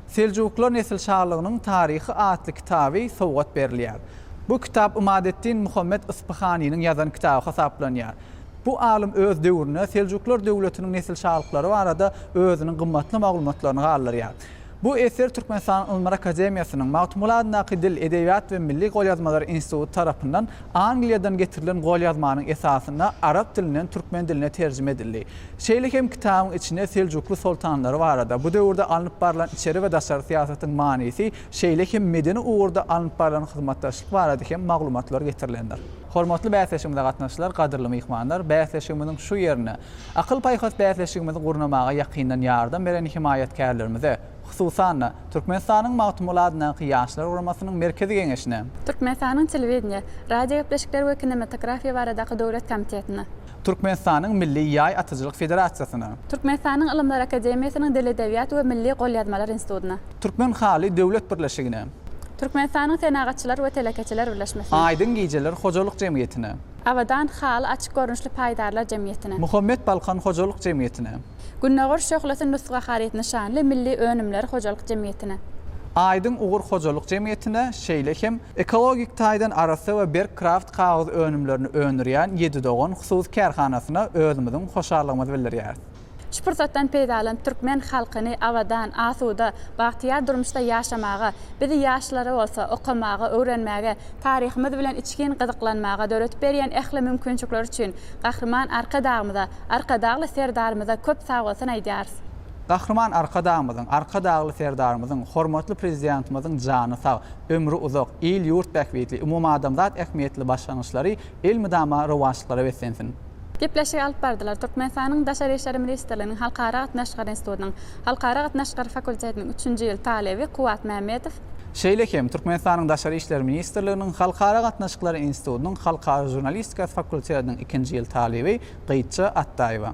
Seljuklar nesilşalygynyň taryhy atly kitaby sowgat berilýär. Bu kitap Ymadeddin Muhammet Yspyhanynyň ýazan kitaby hasaplanýar. Bu alym öz döwrüne Seljuklar döwletiniň nesilşalyklary barada özüniň gymmatly maglumatlaryny galdyrýar. Bu eser Türkmenistanyň Ylymlar akademiýasynyň Magtymguly adyndaky Dil, edebiýat we milli golýazmalar instituty tarapyndan Angliýadan getirilen golýazmanyň esasynda arap dilinden türkmen diline terjime edildi. Şeýle hem kitabyň içinde Seljukly soltanlary barada, bu döwürde alnyp barlan içeri we daşary syýasatyň manysy, şeýle hem medeni ugurda alnyp barlan hyzmatdaşlyk barada hem maglumatlar getirilendir. Hormatly bäsleşigimize gatnaşyjylar, gadyrly myhmanlar! Bäsleşigimiziň şu ýerine, akyl-paýhas bäsleşigimizi gurnamaga ýakyndan ýardam beren hemaýatkärlerimize, hususan-da, Türkmenistanyň Magtymguly adyndaky Ýaşlar guramasynyň Merkezi Geňeşine, Türkmenistanyň Telewideniýe, radiogepleşikler we kinematografiýa baradaky döwlet komitetine, Türkmenistanyň Milli ýaý atyjylyk federasiýasyna. Türkmenistanyň Ylymlar akademiýasynyň Dil edebiýat we milli golýazmalar institutyna. Türkmen haly döwlet birleşigine. Türkmenistanyň Senagatçylar we telekeçiler birleşmesine. Aýdyň gijeler hojalyk jemgyýetine. Abadan haly açyk görnüşli paýdarlar jemgyýetine. Muhammet Balkan hojalyk jemgyýetine. Gündogar şöhlesi Nusga haryt nyşanly milli önümler hojalyk jemgyýetine. Aýdyň ugur hojalyk jemgyýetine, şeýle hem ekologik taýdan arassa we berk kraft kagyz önümlerini öndürýän Ýedi dogan hususy kärhanasyna özümiziň hoşallygymyzy bildirýäris. Şu pursatdan peýdalanyp türkmen halkyny abadan, asuda, bagtyýar durmuşda ýaşamaga, bizi ýaşlara bolsa okamaga, öwrenmäge, Taryhymyz bilen içgin gyzyklanmaga döredip berýän ähli mümkinçilikler üçin Gahryman Arkadagymyza, Arkadagly Serdarymyza köp sagbolsun aýdýarys. Gahryman Arkadagymyzyň, Arkadagly Serdarymyzyň, hormatly Prezidentimiziň jany sag, ömri uzak, il-ýurt bähbitli, umumadamzat ähmiýetli başlangyçlary elmydama rowaçlyklara beslensin! Gepleşigi alyp bardylar. Türkmenistanyň Daşary işler ministrliginiň Halkara gatnaşyklary institutynyň Halkara gatnaşyklary fakultetiniň üçünji ýyl talyby Kuwwat Mämmedow, Şeýle hem, Türkmenistanyň Daşary işler ministrliginiň Halkara gatnaşyklary institutynyň Halkara žurnalistikasy fakultetiniň ikinji ýyl talyby Gytja Atdaýewa,